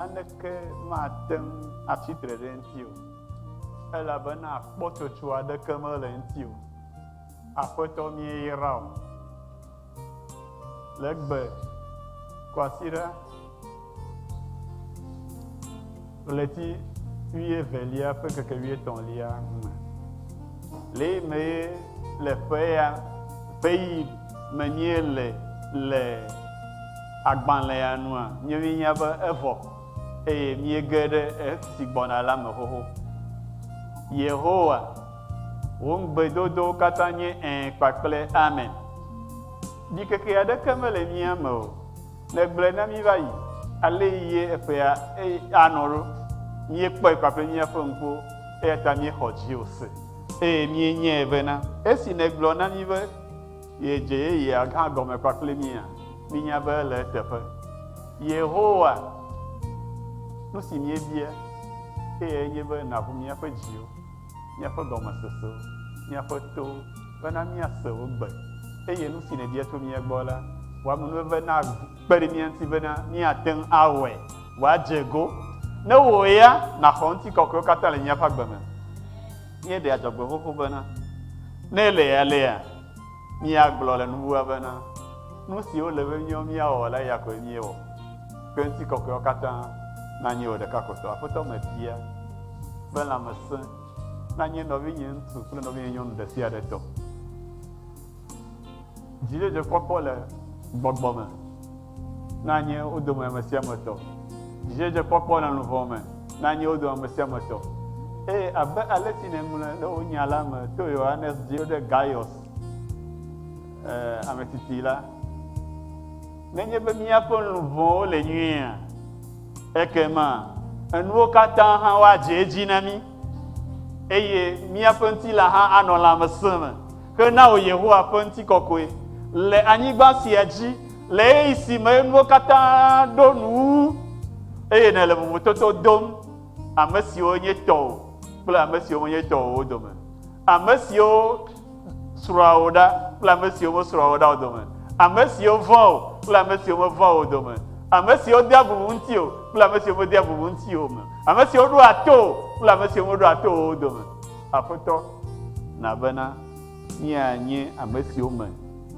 Naneke mate ŋu atsi tre ɖe eŋuti o, elabena kpɔtsotso aɖeke mele eŋuti o. Aƒetɔ, míeyra wò le egbe, kwasiɖa ɣleti wuievelia ƒe ŋkeke wuietɔ̃lia me. Le ye mee le ƒe ya ƒe ɣi me míele le. Agbalẽa nua nye míenya be evɔ eye míege ɖe esi gbɔna la me xoxo. Yehowa, wò ŋugbedodowo katã nye Ẽ kpakple Amen. Ɖikeke aɖeke mele mía me o. Nègblɔe na mí va yi, alee ye eƒea anɔ ɖo. Míekpɔe kpakple míaƒe ŋkuwo, eya ta míexɔ dziwò se. Eye míenyae bena esi nègblɔ na mí be. Ye dze yeyea hã gɔme kpakple mía? Minya be le eteƒe. Yehowa, nu si míebia eyae nye be nàʋu míaƒe dziwo, míaƒe gɔmesesewo, míaƒe towo, bena míase wò gbe, eye nu si nèbia tso mía gbɔ la, wò amenuveve nakpe ɖe mía ŋuti bena míate ŋu awɔe wòadze go, ne wò ya nàxɔ ŋutikɔkɔewo katã le míaƒe agbe me. Míeɖea dzɔgbeƒoƒo bena, Ne léaléa, míagblɔ le nuwua bena, Nu si wole be míawo míawɔ la, eya koe míewɔ, ke ŋutikɔkɔeawo katã nanye wò ɖeka ko tɔ. Aƒetɔ mebia be lãmesẽ nanye nɔvinye ŋutsu kple nɔvinye nyɔnu ɖesiaɖe tɔ. Dzidzedzekpɔkpɔ le gbɔgbɔ me. na nye wo dome ame sia ame tɔ, dzidzedzekpɔkpɔ le luʋɔ me na nye wo dome ame sia ame tɔ. Eye abe alesi nèŋlɔe ɖe wò Nya la me to Yohanes dzi ɖe Gaius, e, ame titi la, nenye be míaƒe luʋɔwo le nyuiea, ekema enuwo katã hã woadze edzi na mí. Eye míaƒe ŋutilãha anɔ lãmesẽ me hena wò, Yehowa, ƒe ŋutikɔkɔe le anyigba sia dzi, le ɣeyiɣi si me nuwo katã ɖo nu wu, eye nèle vovototo dom ame siwo nye tɔwò kple ame siwo menye tɔwò o dome, ame siwo srɔ̃a wò ɖa kple ame siwo mesrɔ̃a wò ɖa o dome, ame siwo vɔ̃a wò kple ame siwo mevɔ̃a wò o dome, ame siwo dea bubu ŋutiwò kple ame siwo medea bubu ŋutiwò o me, ame siwo ɖoa to wò kple ame siwo meɖoa to wò o dome. Aƒetɔ, na bena míanye ame siwo me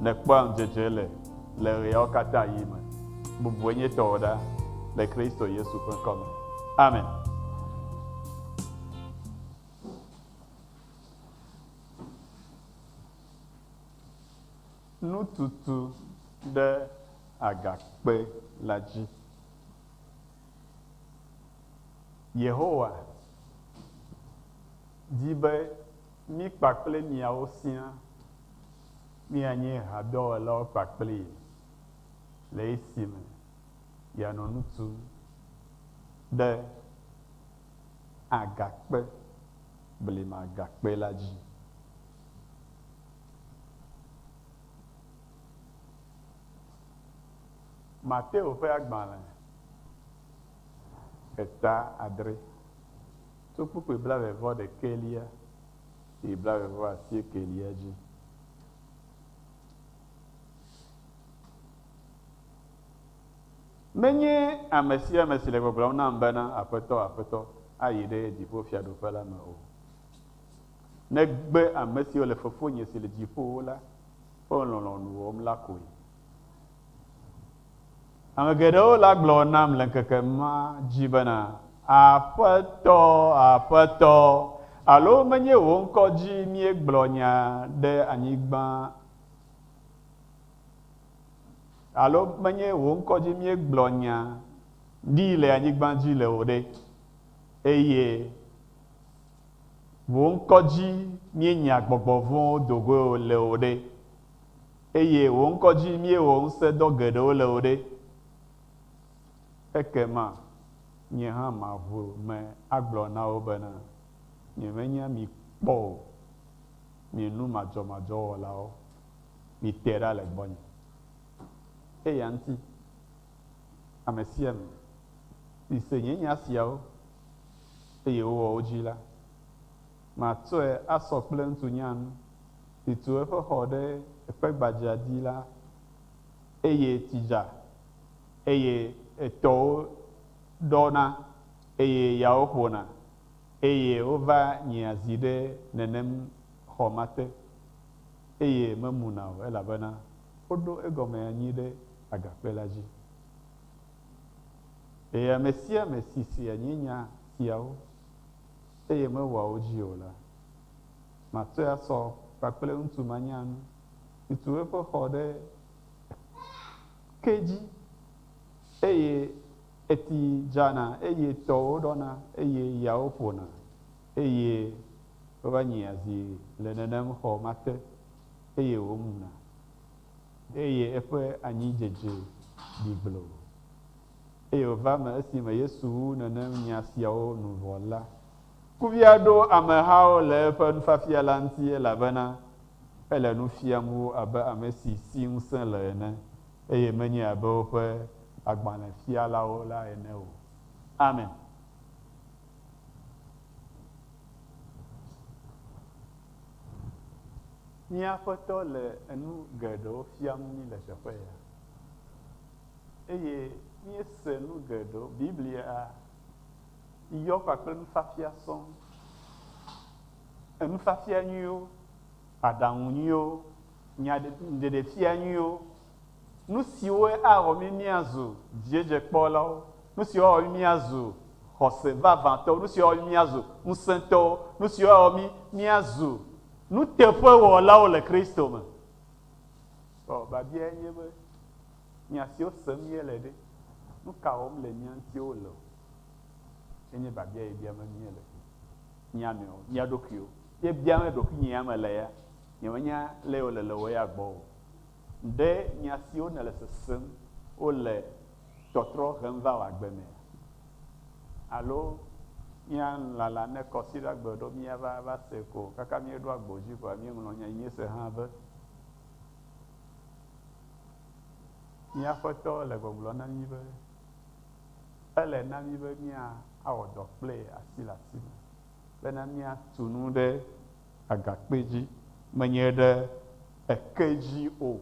nèkpɔa ŋudzedze le le ɣeawo katã ɣi me. Bubu enyitɔwo ɖa le Kristo Yesu ƒe ŋkɔ me. Amen. Nututu ɖe agakpe la dzi. Yehowa di be mí kpakple miawo siaa míanye hadɔwɔlawo kpakplee le esime yeanɔ nu tum ɖe. agakpe blimagakpe la dzi. Mateo ƒe agbalẽ, heta adre, tso kpukpui blaeve-vɔ-ɖekɛlia yi blaeve-vɔ-asiekɛlia dzi. Menye ame sia ame si le gbɔgblɔm nam bena, Aƒetɔ, Aƒetɔ, ayi ɖe dziƒofiaɖuƒe la me o, negbe ame siwo le Fofonye si le dziƒowo la ƒe lɔlɔ̃nu wɔm la koe. Ame geɖewo le agblɔ nam le ŋkeke ma dzi bena, Aƒetɔ, Aƒetɔ, alo menye wò ŋkɔ dzi míegblɔ nya ɖe anyigba Alo menye wò ŋkɔ dzi míegblɔ nya ɖi le anyigba dzi le o ɖe? Eye wò ŋkɔ dzi míenya gbɔgbɔ vɔ̃wo do goe le o ɖe? Eye wò ŋkɔ dzi míewɔ ŋusẽdɔ geɖewo le o ɖe? Ekema nye hã maʋu me agblɔ na wo bena, Nyemenya mi kpɔ o, mi nu madzɔmadzɔ wɔlawo! Mite ɖa le gbɔnye. Eya ŋuti, ame sia ame si se nye nya siawo, eye wòwɔ wo dzi la, matsɔe asɔ kple ŋutsu nyanu si tu eƒe xɔ ɖe ekpe gbadzɛa dzi la, eye tsi dza, eye etɔwo ɖɔna, eye yawo ƒona, eye wova nyia zi ɖe nenem xɔ ma te. eye memuna o, elabena woɖo egɔme anyi ɖe agakpe la dzi. Eye ame sia ame si sea nye nya siawo, eye mewɔa wo dzi o la, matɔe asɔ kpakple ŋutsu ma nya nu, si tu eƒe xɔ ɖe ke dzi, eye eti dzana, eye tɔwo ɖɔna, eye yawo ƒona. eye wova nyia zi le nenem xɔ ma te, eye wòmuna, eye eƒe anyi dzedze ɖi gbloo. Eye wòva eme esime Yesu wu nenem nya siawo nu vɔ la. Kuvia ɖo amehawo le eƒe nufiafia la ŋuti, elabena ele nu fiam wo abe ame si si ŋusẽ le ene, eye menye abe woƒe agbalẽfialawo la ene o. Amen. Mía Aƒetɔ le enu geɖewo fiam mí le teƒe ya, eye míese nu geɖewo. Biblia yɔ kpakple nufiafia sɔŋ. Enufiafia nyuiwo, aɖaŋu nyuiwo, nyaɖe, ɖeɖefia nyuiwo. Nu siwoe awɔ mí míazu dziedzekpɔlawo, nu siwo awɔ mí míazu xɔse vavãtɔwo, nu siwo awɔ mí míazu ŋusẽtɔwo, nu siwo awɔ mí míazu nuteƒewɔlawo le Kristo me. Vɔ biabiae nye be, Nya siwo sem míele ɖe, nu ka wɔm le mía ŋuti wole o? Ye nye biabia ye biam míele mía nɔewo, mía ɖokuiwo. Ye biam ɖokuinye ya mele ya, nyemenya lé wole le wò ya gbɔ o. Ɖe nya siwo nèle sesem wo le tɔtrɔ hem va wò agbe mea? Alo mía lala ne kɔsiɖa gbe ɖo míava va se ko kaka míeɖo agbo dzi koa míeŋlɔ nya yi míese hã be, Mía Aƒetɔ le gbɔgblɔm na mí be ele na mí be míawɔ dɔ kple ye asi le asi me bena míatu nu ɖe Agakpe dzi, menye ɖe eke dzi o.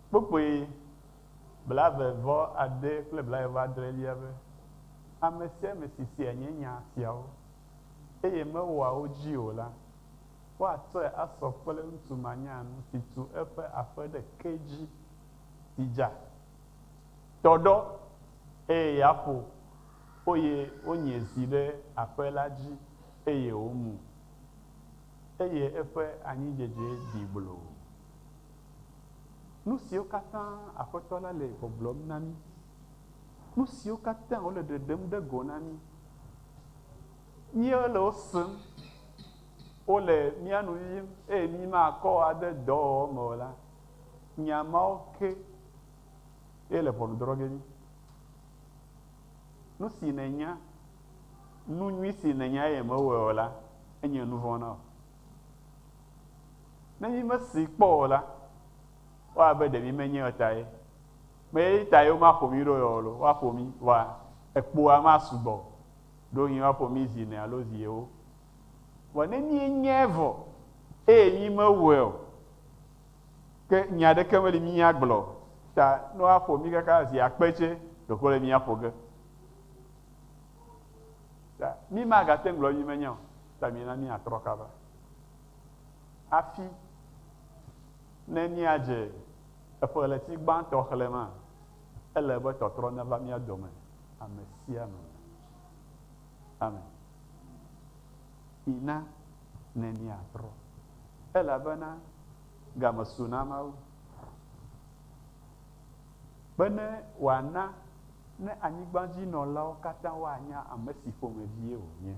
Kpukpui blave-vɔ-ade kple blave-vɔ-adrelia be, Ame sia ame si sea nye nya siawo, eye mewɔa wo dzi o la, woatsɔe asɔ kple ŋutsu manyanu si tu eƒe aƒe ɖe ke dzi, si dza, Tɔ ɖɔ, eye ya ƒo, oye wonye zi ɖe aƒe la dzi, eye womu, eye eƒe anyidzedze ɖi gblo. Nusiwo katã Aƒetɔ la le gbɔgblɔm na mí, nusiwo katã wòle ɖeɖem ɖe go na mí, míele wo sem, wole mía nu yim, eye mímakɔ ade dɔwɔwɔ me o la, Nya mawo ke ye le ʋɔnudrɔ̃ge nyi. Nu si nènya, nu nyui si nènya eye mèwɔe o la, enye nuvɔ̃ na wò. Ne mímesee kpɔ o la, ewɔ abe ɖe mímenyae o tae. Meye tae womaƒo mí ɖo yɔ o loo, woaƒo mí, vɔa ekpoa masugbɔ o. Ɖewohĩ woaƒo mí zi ene alo zi ewo. Vɔ ne míenyae vɔ eye mímewɔe o Ke nya aɖeke meli míagblɔ ta ne woaƒo mí kaka zi akpe tsɛ ɖeko le míaƒo ge. Ta mí magate ŋu gblɔ be mí menya o. Ta mina míatrɔ kaba hafi ne míadze eƒe ɣleti gbãtɔ xlẽmaa, ele be tɔtrɔ neva mía dome ame sia ame me. Ame, mina ne míatrɔ, elabena game su na Mawu, be ne wòana ne anyigbadzinɔlawo katã woanya ame si ƒomevie wònye,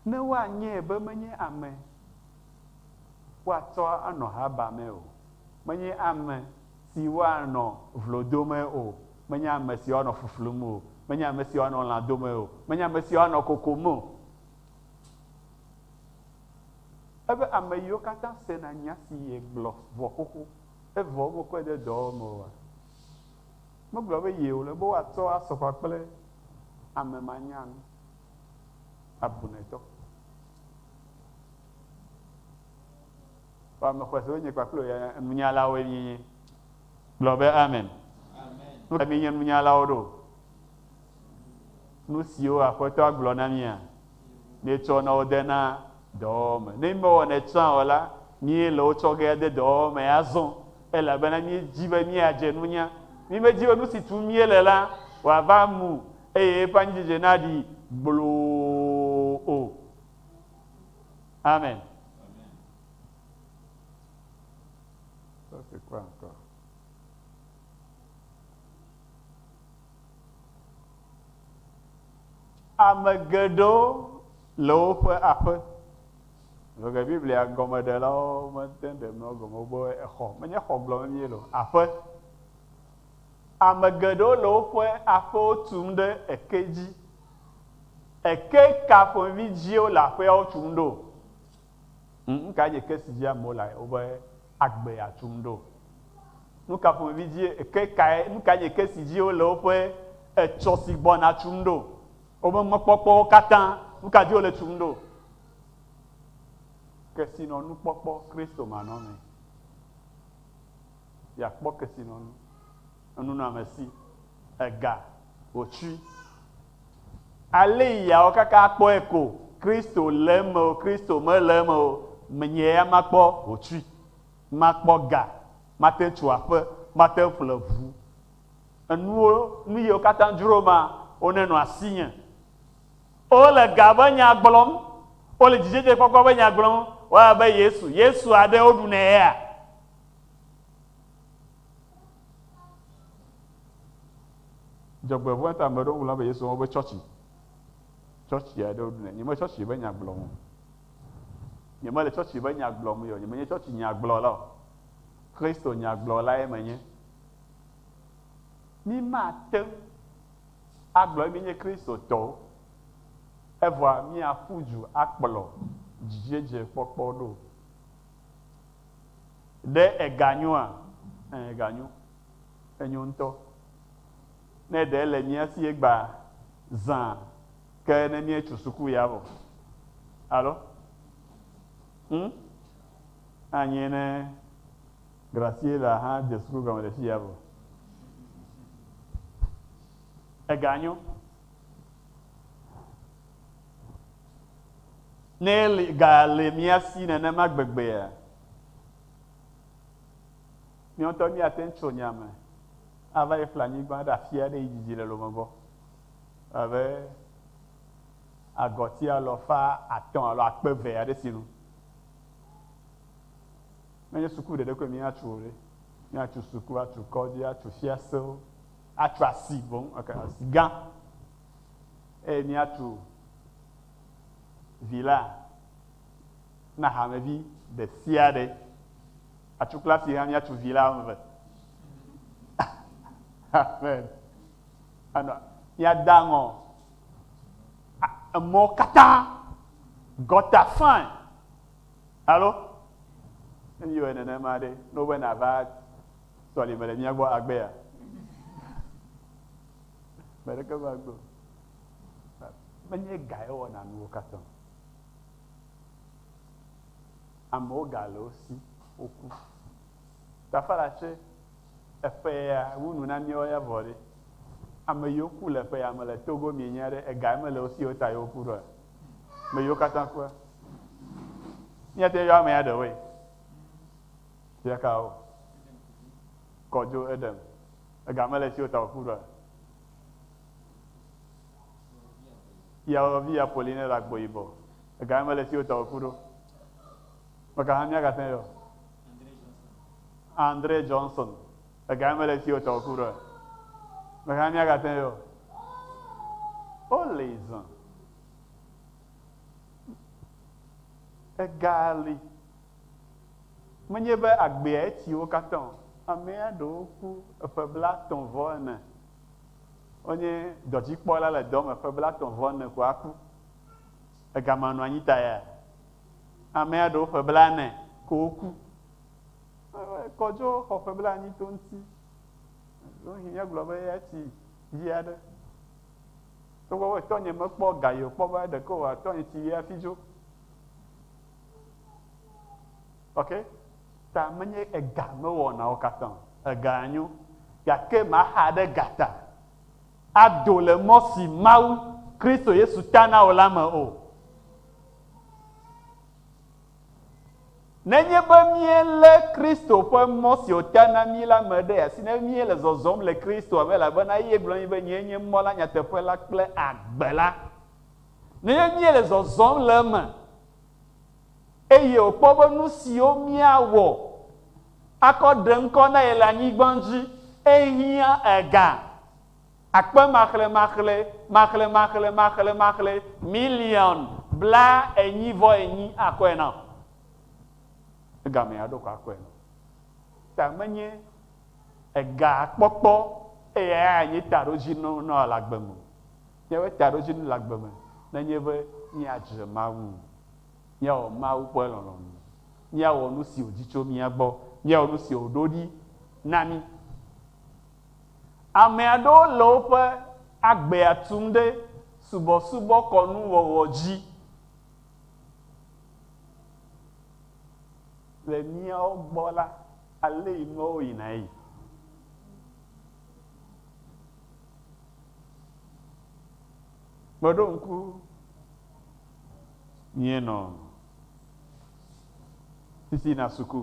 ne woanyae be menye ame woatsɔ anɔ haba mee o, menye ame. si woanɔ vlo dome o, menye ame si woanɔ fuflum o, menye ame si woanɔ lã dome o, menye ame si woanɔ kokom o. Ebe ame yiwo katã sena nya si yegblɔ vɔ xoxo, evɔ womekɔe de dɔwɔwɔ me oa? Megblɔ be yee wòle be woatsɔ asɔ ƒã kple ame manyan abunɛtɔ. Ƒe ame xɔsewo nye kpakple wò ya nunyalawoe míenye. Gblɔ be, Amen. Nu kae míenye nunyalawo ɖo? Nu siwo Aƒetɔa gblɔ na mía, míetsɔ na wodena dɔwɔwɔ me. Ne mímewɔnɛ tsã o la, míele wo tsɔ ge ade dɔwɔwɔ mee azɔ, elabena míedi be míadze nunya. Mímedi be nu si tum míele la wòava mu eye eƒe anyidzedze naɖi gbloo o. Amen. Ame geɖewo le woƒe aƒe. Lɔge Biblia gɔmeɖelawo mete ɖe nɔ gɔme be exɔ, menye xɔ gblɔm mie lo, aƒe. Ame geɖewo le woƒe aƒewo tum ɖe eke dzi Eke ka ƒomevi dzie le aƒeawo tum ɖo? Ŋ, nu kae nye eke si dzi amewo le woƒe agbea tum ɖo? Nu ka ƒomevi dzie eke kae, nu kae nye eke si dzi wole woƒe etsɔ si gbɔna tum ɖo? Woƒe mɔkpɔkpɔwo katã, nu ka dzi wole tum ɖo? Kesinɔnukpɔkpɔ Kristomanɔmee. Yeakpɔ kesinɔnu. enunɔamesi, ega, wòtsui. Aley awɔ kaka akpɔe ko, Kristo le eme o, Kristo mele eme o, menye ya makpɔ wòtsui, makpɔ ga, mate ŋu tso aƒe, mate ŋu ƒle ŋu. Enuwo, nu yiwo katã dzro ma, wonenɔ asinye. Wole ga ƒe nya gblɔm, wole dzidzedzekpɔkpɔ ƒe nya gblɔm, wɔ abe Yesu, Yesu aɖe woɖunɛ yea? Dzɔgbevɔ̃e ta ame ɖewo gblɔna be Yesu wobe tsɔtsi. Tsɔtsi aɖewo ɖunɛ. Nyemele tsɔtsi ƒe nya gblɔm o. Nyemele tsɔtsi ƒe nya gblɔm o. Nyemenye tsɔtsi nya gblɔla o. Kristo nya gblɔlae menye. Mí mate ŋu agblɔ be míenye Kristotɔwo evɔa míaƒu du akplɔ dzidzedzekpɔkpɔ ɖo o. Ɖe ega nyoa? Ẽ, ega nyo. Enyo ŋutɔ. Ne ɖe ele mía si egba zã ke ne míetso suku ya vɔ. Alo? Ŋ? Anye ne Graciela hã de suku gɔme le fiya vɔ. Ega nyo. Ne ga le mía si nenema gbegbea, míawo ŋutɔ míate ŋu tso nya me ava yi ƒle anyigba ɖe afi aɖe yi dzidzi le lome gbɔ. Abe agɔti alafa atɔ̃ alo akpe eve aɖe sinu. Menye suku ɖeɖe koe míatso o ɖe. Míatso suku, atso kɔdzi, atso fiasewo, atso asi boŋ, asi gã. eye míatu vi la na hamevi ɖe sia ɖe. Atu klasi hã míatu vi la eve. Amen. Anɔ míada ŋɔ emɔ katã gɔta fine. Alo ne míwɔe nenema ɖe, ne wobe nava sɔlime le mía gbɔ agbea? Ame aɖeke va gbe o. Menye ga ye wɔna nuwo katã o. Amewo ga le wo si, woku. Gafala tsɛ, eƒe ya wu nu na míawo ya vɔ ɖe. Ame yiwo ku le eƒe ya me le Togo mienya ɖe ega ye mele wo si ye ta ye woku ɖoa? Ame yiwo katã kua? Míate ŋu ayɔ amea ɖewoe. Zi ɖeka o. Kɔ dzo Edem. Ega mele esi wota wòku ɖoa? Yeawɔvi Apolline le agbo yibɔ. Ega mele esi wota wòku ɖo. Meka hã míagate ŋu ayɔ? Andre Johnson. Ega mele esi wota wòku ɖoa? Meka hã míagate ŋu ayɔ? Woli zã. Ega li. Menye be agbea etsi wo katã o. Amea ɖewo ku eƒe blatɔ̃ vɔ ene. Wonye dɔdzikpɔla le dɔ me ƒe blatɔ̃ vɔ ene ko aku. Egama nɔ anyi ta ya amea ɖewo ƒe blane ko woku. Kɔdzo xɔ ƒe blaenyi to ŋuti. Ɖewohĩ míagblɔ be eya tsi vi aɖe. Togbɔ be etɔnye mekpɔ ga yi o, kpɔ be ɖeke wòatɔ nye tsi vi hafi dzo. Ok, ta menye ega mewɔnawo katã o. Ega nyo, gake maxa ɖe ga ta ado le mɔ si Mawu, Kristo Yesu ta na wò la me o. Nenye be míelé Kristo ƒe mɔ si wòta na mí la me ɖe asi, ne míele zɔzɔm le Kristoa me, elabena eye gblɔ na mí be, Nyee nye mɔ la, nyateƒe la kple agbe la. nenye míele zɔzɔm le eme eye wòkpɔ be nu siwo míawɔ akɔ ɖe ŋkɔ na ye le anyigba dzi ehiã ega akpemaxlemaxlemaxlemaxlemaxlemaxle miliɔn blaenyi-vɔ-enyi akɔe na o. Egamea ɖo ko akɔe na o. Ta menye ega kpɔkpɔ eye eya anye taɖodzinu na wò le agbe me o. Míaƒe taɖodzinu le agbe me nenye be míadzre Mawu, míawɔ Mawu ƒe lɔlɔ̃nu, míawɔ nu si wòdi tso mía gbɔ, míawɔ nu si wòɖo ɖi na mí. Ame aɖewo le woƒe agbea tum ɖe subɔsubɔkɔnu wɔwɔ dzi. Le míawo gbɔ la, alee nuawo yina eye Kpɔɖo ŋku, Míenɔ sisi na suku.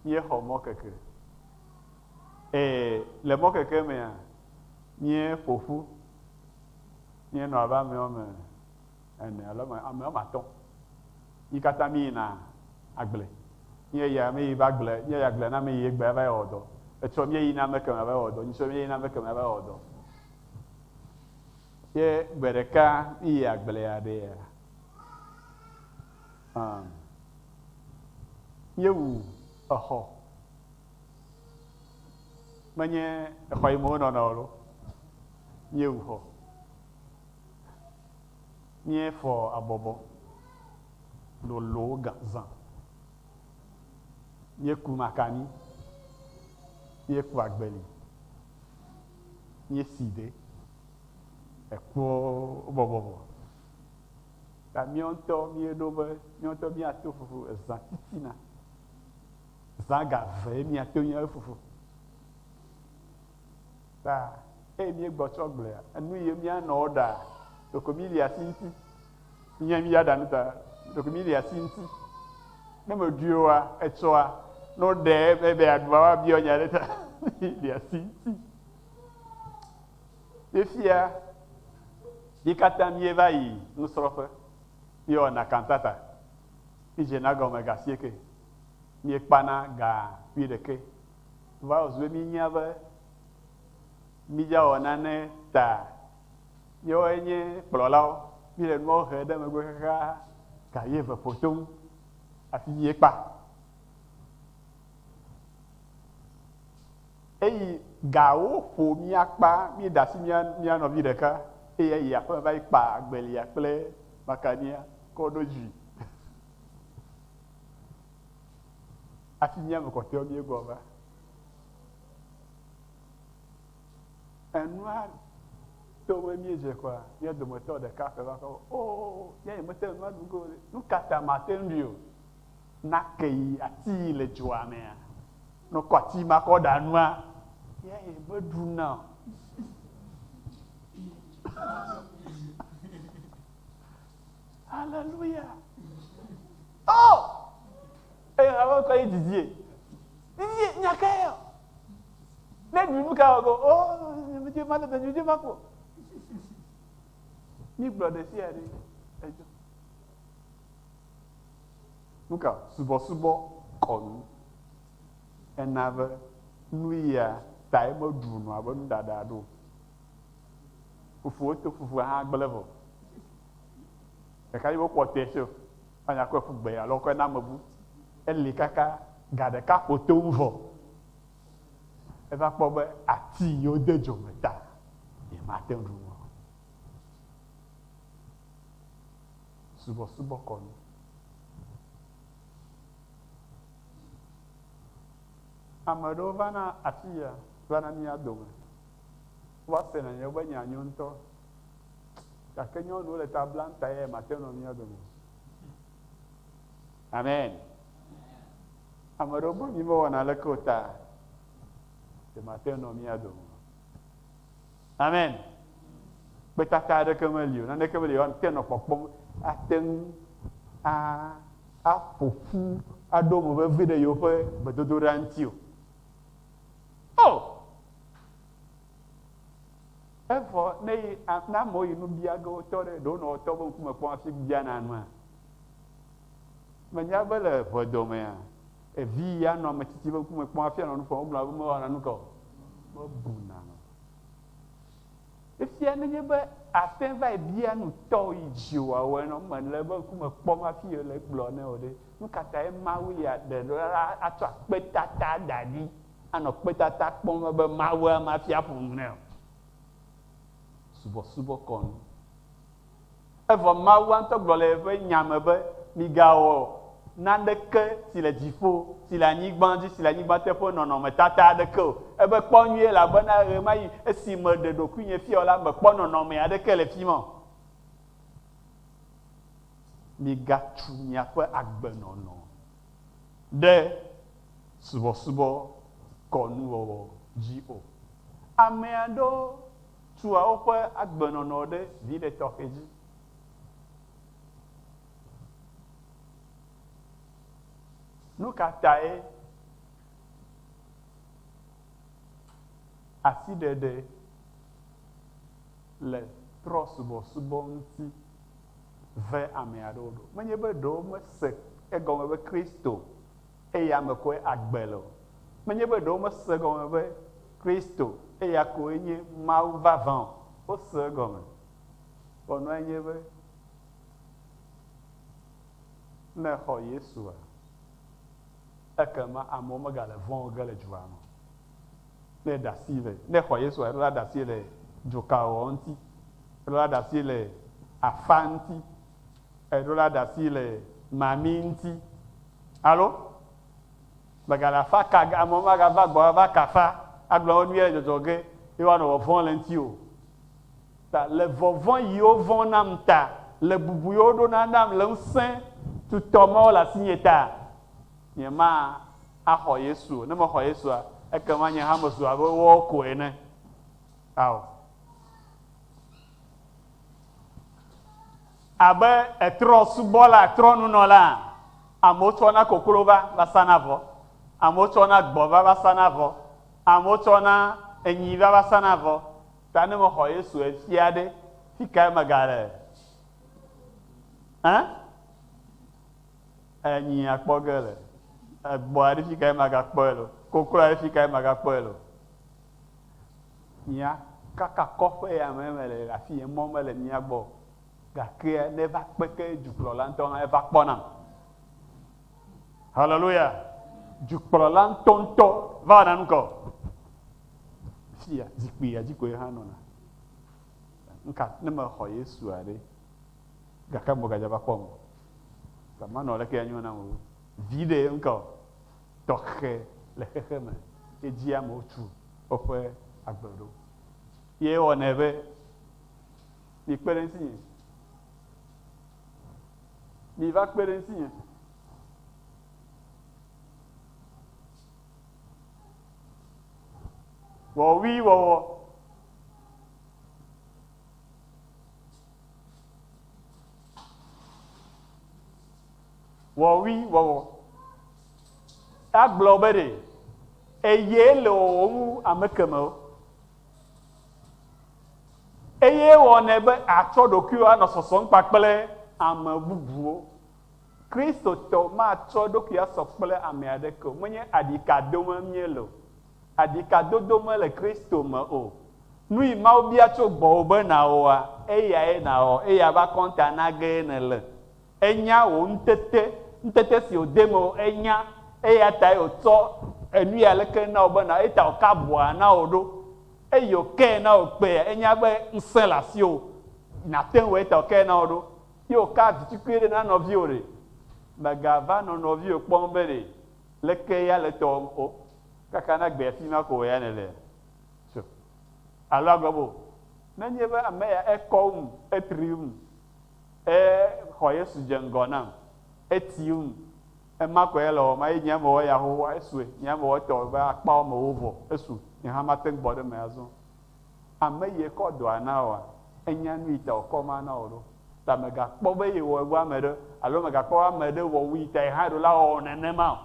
Míexɔ mɔkeke. Eye le mɔkeke mea, míeƒo ƒu. Míenɔ abe ame woame. Ene alo ame ame woame atɔ̃ yi katã mi yina agble. Nye ya mi yi va agble, nye ya agble na mi yi egbea va yi wɔ dɔ. Etsɔ mi yina ame kemɛ va yi wɔ dɔ, nye tsɔ mi yina ame kemɛ va yi wɔ dɔ. Ye gbe ɖeka mi yi agblea ɖe ya. Um, míewu exɔ. Menye exɔ yi me wonɔna o lo. Míewu xɔ. Míefɔ abɔbɔ lolowo gã zã. Míeku makani. Míeku agbeli. Míesi de ekuwo bɔbɔ me. Ta míawo ŋutɔ míeɖo be míawo ŋutɔ míato fufu ezã titina. Zã ga evee míato míawo fufu. Ta, eye míegbɔ tsɔ gblea, enu ye míanɔ wɔ ɖaa, ɖeko míli asi ŋuti. Nye mí ya ɖa nu ta, ɖeko míli asi ŋuti. Ne meɖui oa, etsɔa, ne woɖe ebe be aɖua woabiɔ nya ɖe ta, míli asi ŋuti. Fifia, mí katã míeva yi nusrɔ̃ƒe, míewɔna kantata, mídzena gɔme ga sieke míekpana ga ƒui ɖekɛ. Vawɔsi be míenya be mídzawɔ nane ta míawoe nye kplɔlawo, míele nuawo hem ɖe megbe xaxa ga ye ve ƒo toŋ afi mie kpa. Eyi ga wo ƒo mía kpa, mí da asi mía mía nɔvi ɖeka eye eyi aƒe me va yi kpa agbelia kple makania kɔ ɖo dzi. Hafi míame kɔtɔewo míegbɔ va. Enua to be míedze kɔa, mía dometɔ ɖeka koe va kɔ be, Oo, nye nye mete ŋu aɖu go o ɖe. Nu ka ta mate ŋu ɖui o? Na ke yi ati yi le dzoa mea, ne wokɔ ati ma kɔ ɖa nua, ye meɖuna o. Haleluya! Oo! Eye hame ŋutɔ yi didiee. Didie, nya kae yɔ? Ne ɖu nu ka wɔ ge? Oo, nyemedi male be nyuɖe ma kpɔ. Mígblɔ ɖe sia ɖe edzɔ. Nu ka? Subɔsubɔ kɔnu. Ena be nuya tae meɖu nua be nuɖaɖa ɖo. Fofowò to fufua hã gblẽ vɔ. Ɖeka yi wokpɔ tɛ sio fanya kɔe ƒu gbe alo kɔe na amebu. Eli kaka ga ɖeka kpotoŋ vɔ eva kpɔ be ati yi wode dzo me ta ye mate ŋu ɖu nu o. Subɔsubɔ kɔnu. Ame ɖewo va na afi ya va na mía dome. Wova sena yewobe nya nyo ŋutɔ. Gake nyɔnuwo le ta blam ta ye mate nɔ mía dome. Amen. Ame ɖewo be mi mewɔna aleke o ta ye mate nɔ mía dome. Amen. Kpetata aɖeke meli o, naneke meli o, te nɔ kpɔkpɔm ate ŋu aƒo ƒu aɖo mo vevi ɖe yewoƒe gbedodoɖa ŋuti o. Oh! Evɔ ne yi a ne amewo yi nu bia ge wotɔ ɖe ɖewo nɔ wotɔ be ŋkume kpɔm hafi biana nua? Mènya be le ʋedɔ mea, evi yi anɔ ame tsitsi be ŋkume kpɔm hafi anɔ nu ƒom wogblɔna be mewɔna nu ka o. Mebuna nu. Efia nenye be àte va yi bia nu tɔwo yi dzi wòawɔe nɔ mele be ŋkume kpɔm hafi le egblɔ nɛ o ɖe, nu ka tae Mawu ya ɖe ɖo la atsɔ akpetata da ɖi anɔ kpedada kpɔm ebe Mawua mafia ƒome nɛ o. Subɔsubɔ kɔ nu. Evɔ Mawua ŋutɔ gblɔ le eƒe Nya me be, Migawɔ naneke si le dziƒo, si le anyigba dzi, si le anyigba te ƒe nɔnɔmetata aɖeke o. Ebe, Kpɔ nyuie, elabena ɣemaɣi esi meɖe ɖokuinye fia o la, mekpɔ nɔnɔme aɖeke le fi ma o. Migatsu miaƒe agbenɔnɔ. ɖe subɔsubɔ kɔnuwɔwɔ dzi o. Ame aɖewo tua woƒe agbenɔnɔ ɖe viɖe tɔxɛ dzi. Nu ka tae asiɖeɖe le trɔ̃subɔsubɔ ŋuti? ve ame aɖewo ɖo. Menye be ɖe womese egɔme be Kristo eya me koe agbe le o. Menye be ɖe womese egɔme be Kristo eya koe nye Mawu vavã o. Wose egɔme. Ƒɔnua nye be, ne èxɔ Yesua, ekema amewo megale vɔ̃ wò ge le dua me o. Ne ɖasi le, ne xɔ Yesua, eɖo la ɖasi le dzokaɔ ŋti, eɖo la ɖasi le afa ŋti, eɖo la ɖasi le mami ŋti. Alo? Mègale afa ka ge amewo maga va gbɔwò ava kafa, agblɔ wò nuyɛ le dzɔdzɔ ge ye woanɔ vɔvɔm le ŋti o. Ta le vɔvɔ̃ yi wo vɔ̃ nam ta, le bubu yi wo ɖona nam le ŋsẽ tutɔ mawo le asinye ta, nye ma axɔ Yesu o. Ne mexɔ Yesua, ekema nye hã mezu abe woawo ko ene. Ao. Abe etrɔ̃subɔla, trɔ̃nunɔla, amewo tsɔna koklo va va sana avɔ, amewo tsɔna gbɔ̃ va va sana avɔ, amewo tsɔna enyi va va sana avɔ. Ta ne mexɔ Yesu efia ɖe, fikae megale? Ẽ? Enyi akpɔ ge le egbɔa ɖi fika ye maga kpɔe le o koklɔa ɖi fika ye maga kpɔe le o mia kaka kɔƒe ya me me le afi ye mɔ me le mia gbɔ gakea ne va kpeke dukplɔla ŋutɔ hã eva kpɔ nam haleluya dukplɔla ŋutɔ ŋutɔ va na nukɔ fia zikpui ya dzi koe hã nɔna nka ne me xɔ Yesu aɖe Gake ame gadzra va kpɔm o. Gama nɔ leke anyo nam o, viɖe ŋkɔ tɔxɛ le xexe me ye dzi amewo tu woƒe agbe ɖo. Ye ewɔnɛ be, Mikpe ɖe ŋutinye. Miva kpe ɖe ŋutinye. Wɔwuiwɔwɔ. Wɔwui wɔwɔ. Agblɔ be ɖe eye le wɔwɔm wu ame kemewo. Eye wɔnɛ be atsɔ ɖokuiwo anɔ sɔsɔm kpakple ame bubuwo. Kristotɔ matsɔ eɖokui asɔ kple ame aɖeke o. Menye aɖika dome míele o. Aɖikadodo mele Kristo me o. Nuyi Mawu bia tso gbɔwò be nàwɔa, eyae nàwɔ, eye ava kɔnta nagee nèle. Enya wò ŋutete, ŋutete si wòde mewò ènya, eyatae wòtsɔ enuyi aleke na wò be nàwɔ, eyata wòka abɔa na wò ɖo, eye wòkee na wò kpea, enya be ŋusẽ le asiwò nàte ŋu awɔe, eyata wòkee na wò ɖo, ye wòkaa vitukui ɖe na nɔviwò ɖe. Mègava nɔ nɔviwò kpɔm be ɖe. Leke ya le tɔwòm o? Kaka na gbea fi ma ko wò ya nèlea? Tso. Alo agblɔ be, Nenye be ame ya ekɔ wum, etri wum, exɔ Yesu dze ŋgɔ nam, eti wum, ema ko ya le wɔm, eye nyea mewɔ eya xoxoa, esue. Nyea mewɔ etɔwò be akpawo me wòvɔ, esu. Nye hã mate ŋu gbɔ ɖe eme azɔ. Ame ye kɔ dɔa na oa, enya nuyi ta wòkɔ ma na wò ɖo. Ta mègakpɔ be yewɔe wu ame ɖe alo mègakpɔ be ame ɖe wɔ wuyi ta yehã ɖo la wɔwɔ nenema o.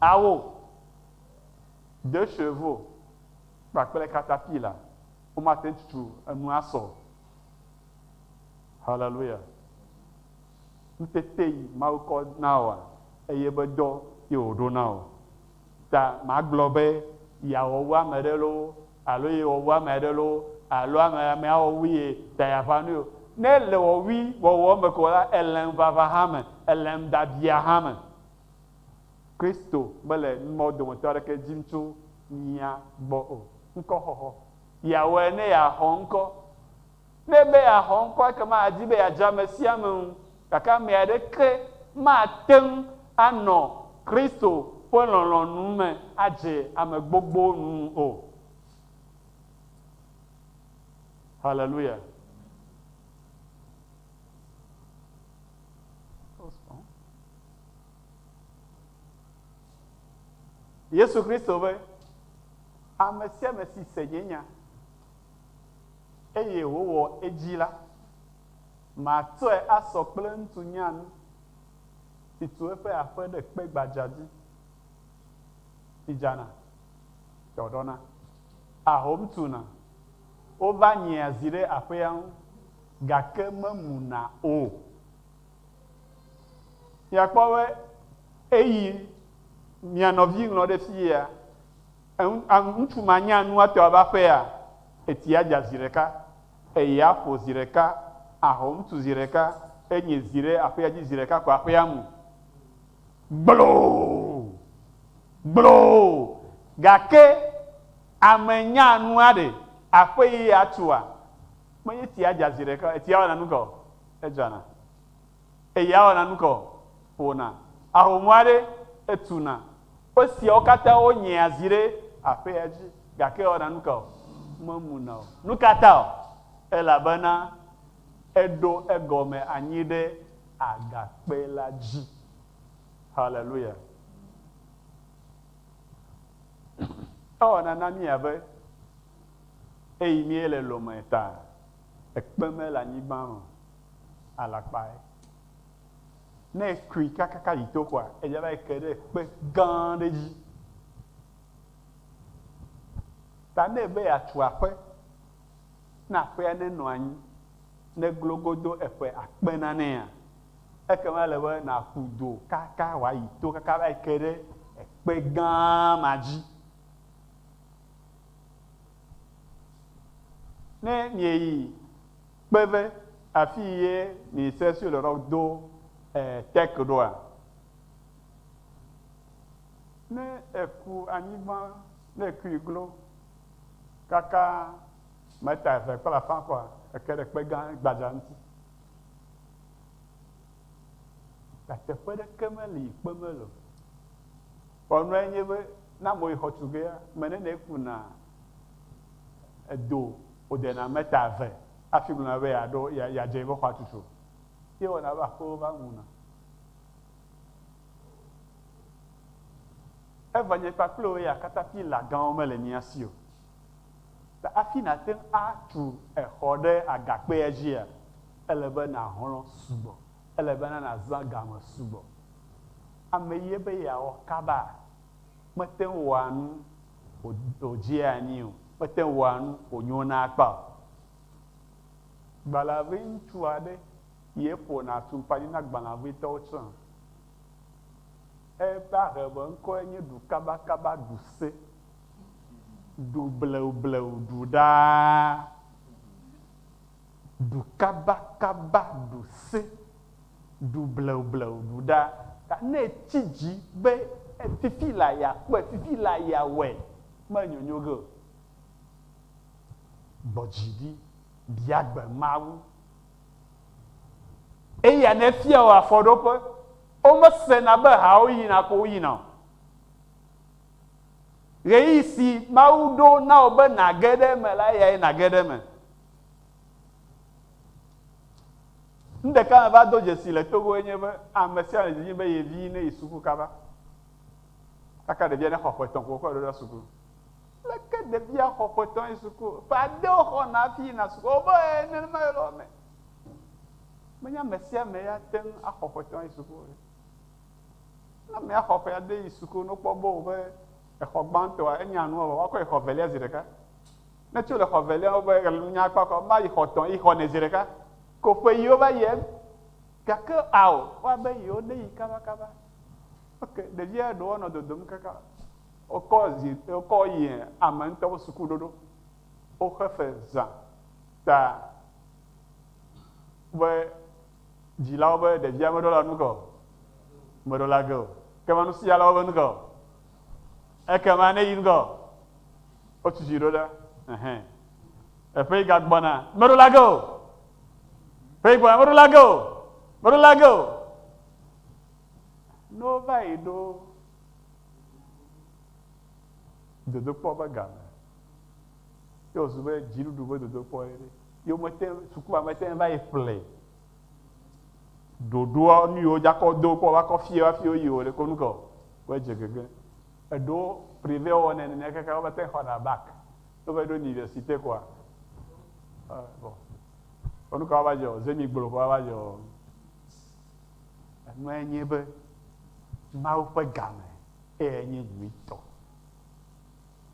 Awo, de chevo kpakple katapila womate ŋu tutu enu asɔ o. Haleluya! Ŋutete yi Mawu kɔ na oa, eye be dɔ ye wòɖo na wò. Ta magblɔ be, Yeawɔ wu ame aɖe loo alo yewɔ wu ame aɖe loo alo ame amea wɔ wu ye ta yeaƒã nui o. Ne èle wɔwui wɔwɔ me ko la, èle ŋuʋaʋã hã me, èle nuɖabiaa hã me. Kristo mele nu mawo dometɔ aɖeke dim tso mía gbɔ o. Ŋkɔxɔxɔ. Yeawɔe ne yeaxɔ ŋkɔ. Ne be yeaxɔ ŋkɔ ekema adi be yeadze ame sia ame ŋu, gake ame aɖeke mate ŋu anɔ Kristo ƒe lɔlɔ̃nu me adze ame gbogbowo nu o. Haleluya! Yesu Kristo be, Ame sia ame si se nye nya. eye wòwɔ edzi la, matsɔe asɔ kple ŋutsu nyanu si tu eƒe aƒe ɖe kpe gbadza dzi si dzana dɔdɔna. Ahom tuna, wova nyia zi ɖe aƒea ŋu, gake memuna o. Miakpɔ be eyi mia nɔvi ŋlɔ ɖe fi ya. Eŋ, a ŋutsu ma nya nu atɔ ava aƒea? Etsi adza zi ɖeka, eye aƒo zi ɖeka, ahɔ̃ ŋutsu zi ɖeka, eye nye zi ɖe aƒea dzi zi ɖeka ko aƒea mu. Gbloo! Gbloo! Gake ame nya nua ɖe? Aƒe ye atua? Menye etsi adza zi ɖeka o. Etsi awana nu ka o. Edzana. Eye awɔna nu ka o? Ƒona ahomɔa ɖe etuna. Esiawo katã wo nyea zi ɖe aƒea dzi gake ewɔna nu ka o? Memuna o. Nu ka ta o? Elabena eɖo egɔme anyi ɖe agakpe la dzi. Haleluya! Ewɔna na mí abe eyi míele lɔ̃mee ta. Ekpe mele anyigba me o, alakpae. Ne ekui kakaka yi to koa, edze va yi ke ɖe kpe gã aɖe dzi. Ta ne ebe yeatu aƒe, ne aƒea nenɔ anyi, ne glo godo eƒe akpe nanea, ekema ele be nàƒu du kaka wòayi to kaka va yi ke ɖe ekpe gã ma dzi. Ne mieyi kpe ve afii ye miese Sur le Roc do Tech ɖoa? Ne eku anyigba, ne ekui glo kaka meta eve kple afã kɔa, eke ɖe kpe gã gbadza ŋuti. Gake teƒe ɖeke meli yi kpe meli o. Ƒɔnua enye be, ne ame yi xɔtugea, me ne ne eku na edo wode na me ta eve afi gblɔ na be ya ɖo ya ya dze yi be xɔa tutu. Ye wɔna be aƒewo va mu na. Eva nye kpakple wò ya kata pila gãwo me le mía si o. Ta afi na te ŋu atu exɔ ɖe agakpea dzia, ele be na hlɔ̃ sugbɔ. Ele bena nàzã ga me sugbɔ. Ame ye be yeawɔ kaba mete ŋu wɔa nu wòdzea anyi o, mete ŋu wɔa nu wònyona akpa o. Gbalẽavi ŋutsu aɖe ye ƒona atumpanyi na gbalẽavitɔwo tsã. Eƒe ahebeŋkɔe nye Ɖukabakaba Ɖuse, Ɖubleubleuu Ɖuɖaa. Ɖu kabakaba, ɖu sẽ, ɖu bleubleuu, ɖu ɖa. Ta ne etsi dzi be fifi la yeakpɔe, fifi la yeawɔe, menyonyo ge o. Gbɔ dzi ɖi, bia gbe Mawu. Eya nefia wò afɔɖoƒe. Womesena be hawo yina ko woyina o. Ɣeyiɣi si Mawu ɖo na wò be nàge ɖe eme la, eyae nàge ɖe eme. Nu ɖeka meva do dzesi le Togo enye be ame sia ame le didim be ye vi neyi suku kaba. Kaka ɖevia nexɔ ƒe etɔ̃ ko wokɔe ɖoɖa suku. Leke ɖevia xɔ ƒe etɔ̃ yi suku? Ƒe ade woxɔna hafi yina suku. Wobe ee, nenema ye le wo me. Menye ame sia ame ya te ŋu axɔ ƒe etɔ̃ ayi suku o. Ne amea xɔ ƒe ade yi suku ne wokpɔ be wobe exɔ gbãtɔa enya nua vɔ woakɔe xɔ evelia zi ɖeka. Ne tso le xɔ velia wo be ɣlenu nya kpɔ kɔ ma yi xɔ tɔ yi xɔ ne zi ɖeka ko ƒe yi wo va yi eme gake ao wa be yi wo ne yi kaba kaba ok ɖevia ɖewo nɔ dodom kaka wokɔ zi wokɔ yi ame ŋutɔ wo suku ɖoɖo woxe fe zã ta be dzilawo be ɖevia meɖo la nu gɔ meɖo la ge o ke ma nusialawo be nu gɔ Ekema ne yi ŋgɔ wotu dzi ɖo la, ɛhɛ, eƒe yi gagbɔna, meɖo la ge o. Ƒe yi gbɔna, meɖo la ge o. Meɖo la ge o. Ne wova yi ɖo dodokpɔ ƒe game, ye wòzu be dziɖuɖu ƒe dodokpɔ ye ɖe, ye womete, sukua mete ŋu va yi ƒlee. ɖoɖoɔ nuyiwo dzakɔ do kpɔ vakɔ fie wafi woyi o ɖeko nukɔ wɔ dze gege eɖo privé wɔ nɛ nene kaka wova te xɔna bak wova ɖo université kɔa bɔ kɔ nukɔ wova dze o zemi gblo kɔ wova dze o enua enye be mawu ƒe game eye enye nyuitɔ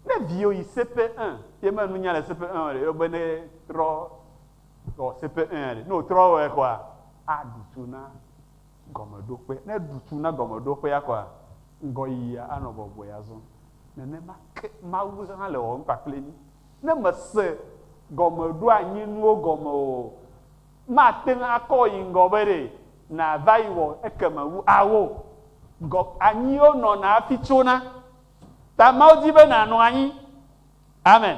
ne viwo yi sepe un ye me nunya le sepe un o ɖe yɔgbe ne rɔ Tɔ se pe ẽ ɖe. Ne wòtrɔ wɔe kɔa, aɖu tsu na gɔmeɖokpe. Ne eɖu tsu na gɔmeɖokpea kɔa, ŋgɔyiyia anɔ bɔbɔe azɔ. Nenema ke Mawu hã le wɔwɔm kpakple mí. Ne mèse gɔmeɖoanyinuwo gɔme o, màte ŋu akɔ yi ŋgɔ be ɖe nàva yi wɔ ekeme wu ao. Gɔ, anyiwo nɔna hafi tsona. Ta Mawu di be nànɔ anyi. Amen.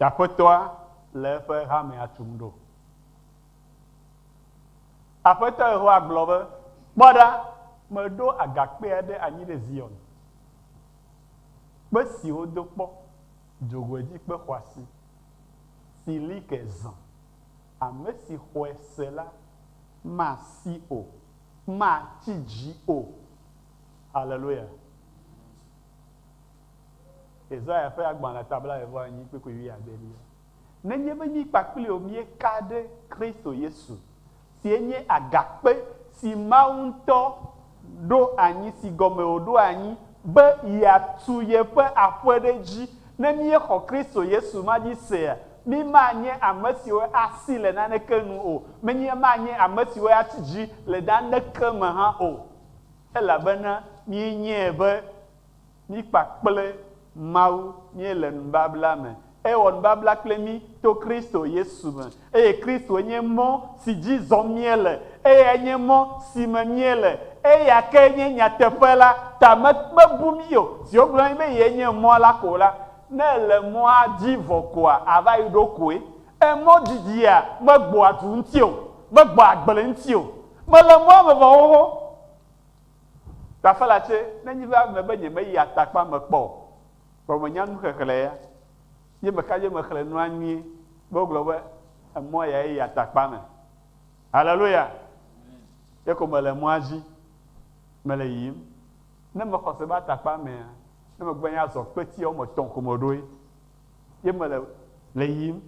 Aƒetɔa le eƒe hamea tum ɖo. Aƒetɔ Yehowa gblɔ be, Kpɔ ɖa, meɖo agakpe aɖe anyi ɖe Zion, kpe si wodo kpɔ, dzogoedzikpe xɔasi, si li ke zã. Ame si xɔe se la masi o, matsi dzi o. Haleluya! Yesaya ƒe agbalẽ ta blaeve-vɔ-enyi kpukpui wuiadelia. Nenye be mí kpakpli o míeka ɖe Kristo Yesu, sie nye agakpe si Mawu ŋutɔ ɖo anyi si gɔme wòɖo anyi be yeatu yeƒe aƒe ɖe edzi. Ne míexɔ Kristo Yesu ma dzi sea, mí manye ame siwo asi le naneke nu o, menye manye ame siwo atsi dzi le naneke me hã o, elabena míenyae be Mí kpakple Mawu míele nubabla me. Ewɔ nubabla kple mí to Kristo Yesu me. Eye Kristoe nye mɔ̃ si dzi zɔm míele. Eyae nye mɔ̃ si me míele. Eya ke nye nyateƒe la. Ta me mebu mí o. Zi wogblɔ na mí be Ye nye mɔ̃ la ko la, ne èle mɔ̃a dzi vɔ koa, àva yi ɖo koe. Emɔ̃ didia megbɔa du ŋuti o, megbɔa agble ŋuti o. Mele mɔ̃a me vɔ xoxo. Tafala tsɛ, ne nyi va eme be nyemeyi atakpa me kpɔ o, vɔ menya nu xexlẽ ya, ye meka dzo mexlẽ nua nyuie be wogblɔ be emɔ yae yi atakpa me. Haleluya! Ye ko mele mɔa dzi, mele yiyim. Ne mexɔse be atakpa mea, ne megbe nya azɔ kpetiawo me tɔ̃ ko meɖoe. ye mele le yiyim,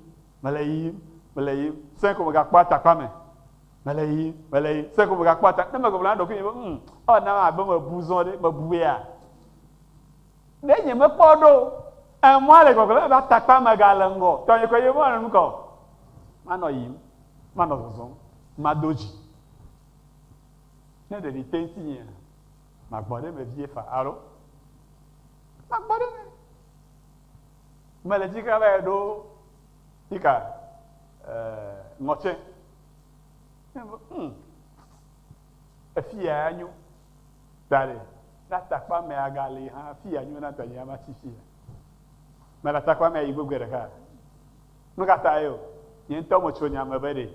mele yiyim, mele yiyim, sẽe ko megakpɔ atakpa me, mele yiyim, mele yiyim, sẽe ko megakpɔ atakpa. Ne megblɔ na ɖokuinye be, Hm, ewɔ nam abe mebu zɔ ɖe, mebu ya. Ɖe nyemekpɔ ɖo o. Emɔa le gbɔgblɔm abe atakpa megale ŋgɔ. Tɔnye koe nye be manɔ nu ka o. Manɔ yiyim, manɔ zɔzɔm, mado dzi. Ne ɖevi te ŋutinyea, magbɔ ɖe eme vie faa, alo? Magbɔ ɖe eme. Mele dzi xlã vae ɖo nika eh, ŋɔtse. Hmm, efiya nyo. Daɖe, ne atakpa me agali hã, fiya nyo na tanye ama tsi fiya. Mele atakpa me yi gbegbe ɖeka. Nu ka ta ye o? Nye ŋutɔ metso nya me be ɖe.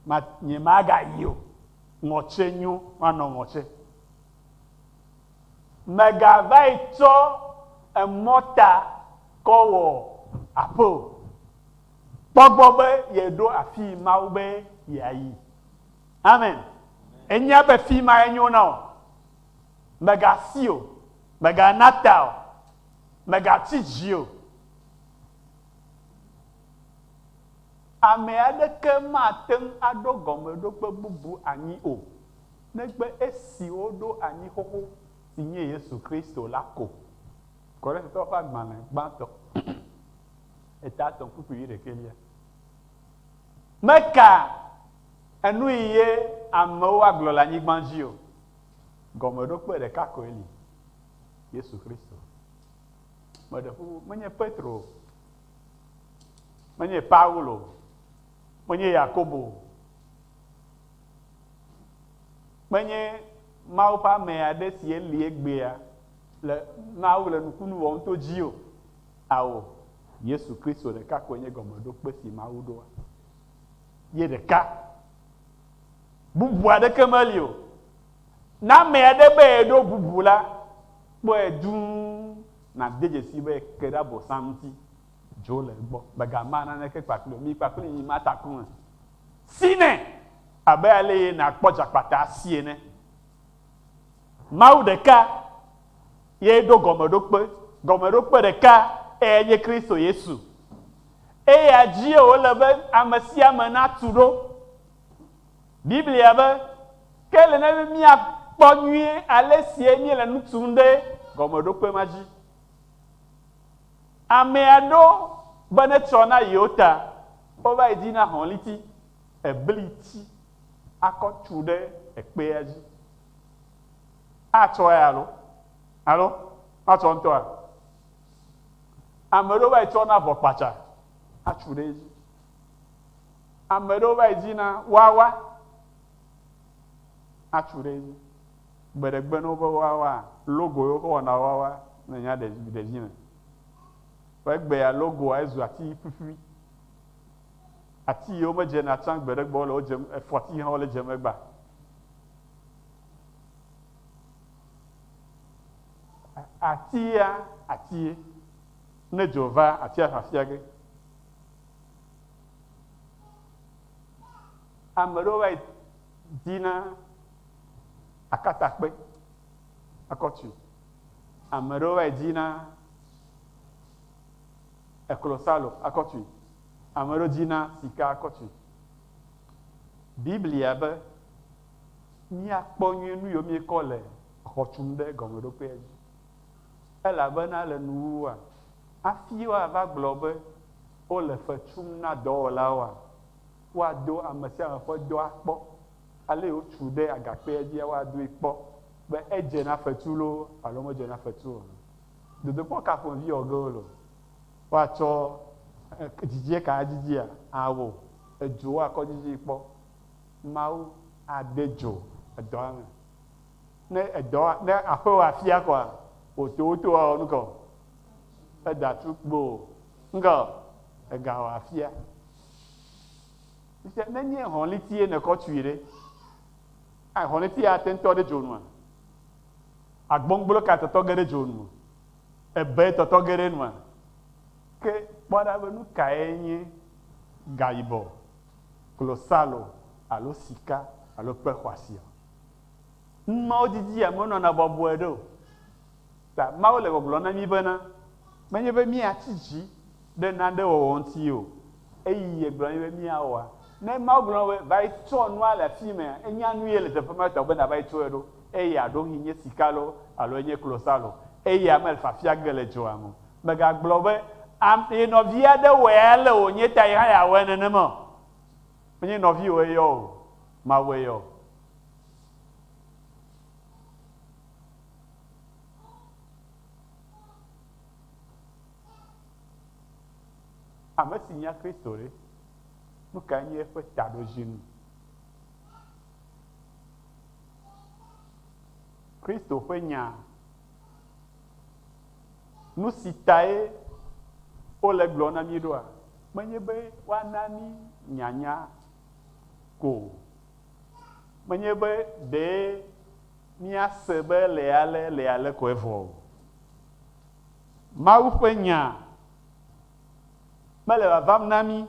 Ma, nye magayi o. Ŋɔtse nyo, manɔ ŋɔtse. Mègavae tsɔ emɔ ta kɔ wɔ aƒe o. Kpɔ gbɔ be yeɖo afii Mawu be yeayi. Amen. Ènya be fi mae nyo na wò. Mègasi o. Mègana ta o. Mègatsi dzi o. Ame aɖeke mate ŋu aɖo gɔmeɖokpe bubu anyi o. negbe esi woɖo anyi xoxo si nye Yesu Kristo la ko. Korintatɔwo ƒe agbalẽ gbãtɔ, eta etɔ̃ kpukpui wuiɖekɛlia meka enui ye amewo agblɔ le anyigba dzi o. Gɔmeɖokpe ɖeka koe li, Yesu Kristo. Meɖe ƒo ƒu, menye Petro o, menye Paulo o, menye Yakobo o, Menye Mawu ƒe ame aɖe sie li egbea le nua wole nukunu wɔm to dzi o. Ao, Yesu Kristo ɖeka koe nye gɔmeɖokpe si Mawu ɖoa. Ye ɖeka. Bubu aɖeke meli o. Ne ame aɖe be yeɖo bubu la, kpɔe dũu nàde dzesii be eke ɖe Abosam ŋuti. Dzo le egbɔ. Mègama naneke kpakplii o. Mi kpakplii mimata ku me. si nɛ abe aleye nàkpɔ dzakpata si ene. Mawu ɖeka ye ɖo gɔmeɖokpe, gɔmeɖokpe ɖeka eyae nye Kristo Yesu. Eya dzie wòle be ame sia ame natu ɖo. Biblia be, Ke ele na mí be míakpɔ nyuie ale sie míele nu tum ɖe gɔmeɖokpe ma dzi. Amea ɖo be netsrɔ̃ na yewo ta Wova edzi na hɔliti, ebliti, akɔ tsu ɖe ekpea dzi. Atsɔe alo? Alo matsɔ ŋutɔa? Ame ɖewo va yi tsɔna avɔ kpatsa atsu ɖe edzi. Ame ɖewo va yi dzina wawa atsu ɖe edzi. Gbeɖegbe ne woƒe wawaa, logo ye woƒe wɔna wawa, ne nya ɖe ɖe edzi me. Ƒe gbe alo goa ezu ati ƒuƒui. Ati yiwo me dzena tsã gbe ɖe gbɔ le wo dzem efɔti hã wo le dzem egba. Atia atie ne dzo va atia fafia ge. Ame ɖewo va yi dina akatakpe akɔtui. Ame ɖewo vae dzina eklosalo akɔtui. Ame ɖewo dzina sika akɔtui. Biblia be míakpɔ nyuie nu yiwo míekɔ le xɔ tum ɖe gɔmeɖokpea dzi. Elabena le nuwuwua, hafi woava gblɔ be wole fe tum na dɔwɔlawoa, woado ame sia ame ƒe dɔa kpɔ Alé wotsu ɖe agakpea dzia woadoe kpɔ be edze na fetu loo alo medze na fetu o. Dodokpɔ ka ƒomevi wɔge wole o. Woatsɔ dzidzie ka adzidzia? Ao, edzo woakɔ dzidzii kpɔ. Mawu ade dzo edɔa me. Ne edɔ, ne aƒe wɔ afia koa, wò towoto woawɔ nuka o? Edatu kpoo. Nuka o? Egawɔ afia. Ŋusẽ nenye hɔ̃litie nèkɔ tui ɖe, aa hɔ̃litia ate ŋu tɔ ɖe dzo nua? Agbɔngblo kae tɔtɔ ge ɖe dzo nu? Ebee tɔtɔ ge ɖe enua? Ke kpɔ ɖa be nu kae nye gayibɔ, klosalo alo sika alo kpe xɔasiɔ? Nu mawo didia menɔna bɔbɔe ɖe o. Ta Mawu le gbɔgblɔm na mí bena, menye be míatsi dzi ɖe nane wɔwɔ ŋuti o, eyi yegblɔ na mí be míawɔa. Ne Mawu gblɔ na wò be, va yi tsɔ nua le afi mea, ènya nu ye le teƒe ma ta be nàva yi tsɔe ɖo. Eya ɖewohĩ nye sika loo alo enye klosalo, eya mele fiafia ge le dzoa me o. Mègagblɔ be, Am, ye nɔvi aɖe wɔe ale wònye ta ye hã yeawɔe nenema o. Menye nɔviwò eyɔ o, Mawue yɔ. Ame si nya Kristo ɖe, nu kae nye eƒe taɖodzinu? Kristo ƒe nya, nu si tae wole gblɔ na mí ɖoa? Menye be woana mí nyanya ko, menye be ɖee Míase be le ale, le ale ko evɔ o. Mawu ƒe Nya mele vavam na mí.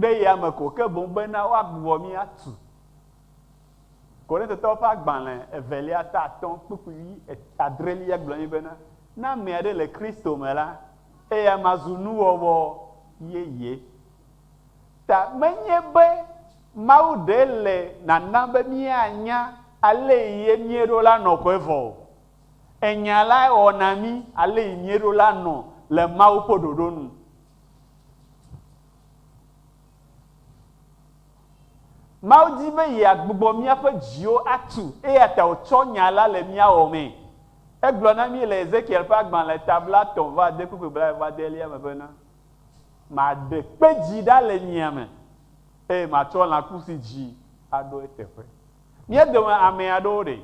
Ɖe yame ko, ke boŋ bena woagbugbɔ mí atu. Korintetɔwo ƒe agbalẽ evelia ta atɔ̃ kpukpui vi adrelia gblɔ nɛ bena, Ne ame aɖe le Kristo me la, eya ma zu nuwɔwɔ yeye. ta menye be Mawu ɖee le nanam be míanya alee ye míeɖo la nɔƒe vɔ o. Enya lae wɔ na mí alee míeɖo la nɔ le Mawu ƒe ɖoɖo nu. Mawu di be yeagbugbɔ míaƒe dziwo atu, eya ta wòtsɔ Nya la le mía wɔmee. Egblɔ na mí le Ezekiel ƒe agbalẽ ta blatɔ̃-vɔ-ade kple ƒe blaeve-vɔ-adelia me bena, Maɖe kpe dzi ɖa le nyia me, eye matsɔ lãku si dzi aɖo eteƒe. Mía dome ame aɖewo ɖee,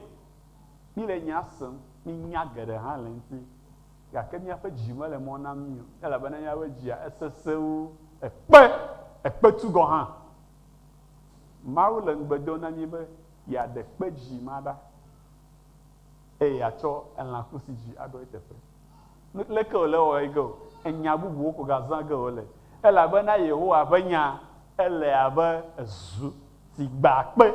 míele nya sem, míenya geɖe hã le eŋuti, gake míaƒe dzi mele mɔ na mí o, elabena míaƒe dzia esesẽ wu ekpe, ekpetu gɔ̃ hã. Mawu le ŋugbe dom na mí be yeaɖe kpe dzi ma ɖa. Eye yeatsɔ elã ku si dzi aɖɔ eteƒe. Nu leke wòle ewɔ ɣi ge o, enya bubuwo ko gazã ge wòle, elabena Yehowa ƒe nya ele abe ezu si gbã kpe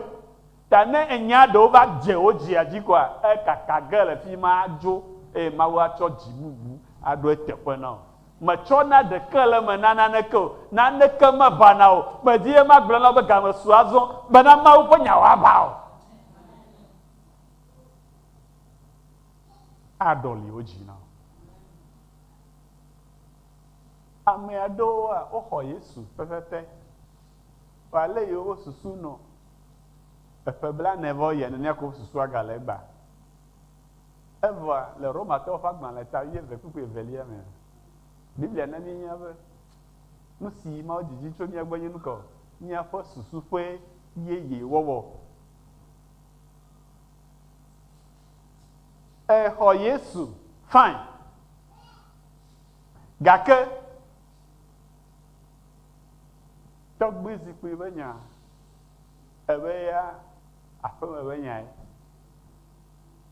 ta. Ne enyea ɖewo va dze wò dzia dzi koa, ekaka ge le fima adzo, eye Mawu atsɔ dzi bubu aɖo eteƒe na wò. Mètsɔna ɖeke le eme na naneke o, naneke meʋãna o. Medi be magblɔ na wò be game su azɔ, bena Mawu ƒe nya wòaʋã o. aɖɔli wo dzi na wo. Ame aɖewoa, woxɔ Yesu pɛpɛpɛ. Vɔ ale yi woƒe susu nɔ eƒe blaene vɔ yia, nenea ko woƒe susua gale egbea. Evɔa, le Romatɔwo ƒe agbalẽ ta wuieve kple ku evelia mea, Biblia na míenya be, Nu si Mawu didi tso mía gbɔ nye nu ka o? Míaƒe susu ƒe yeye wɔwɔ. E xɔ Yesu, fine. Gake tɔgbui zikpui be nya, ebe ya aƒeme be nyae.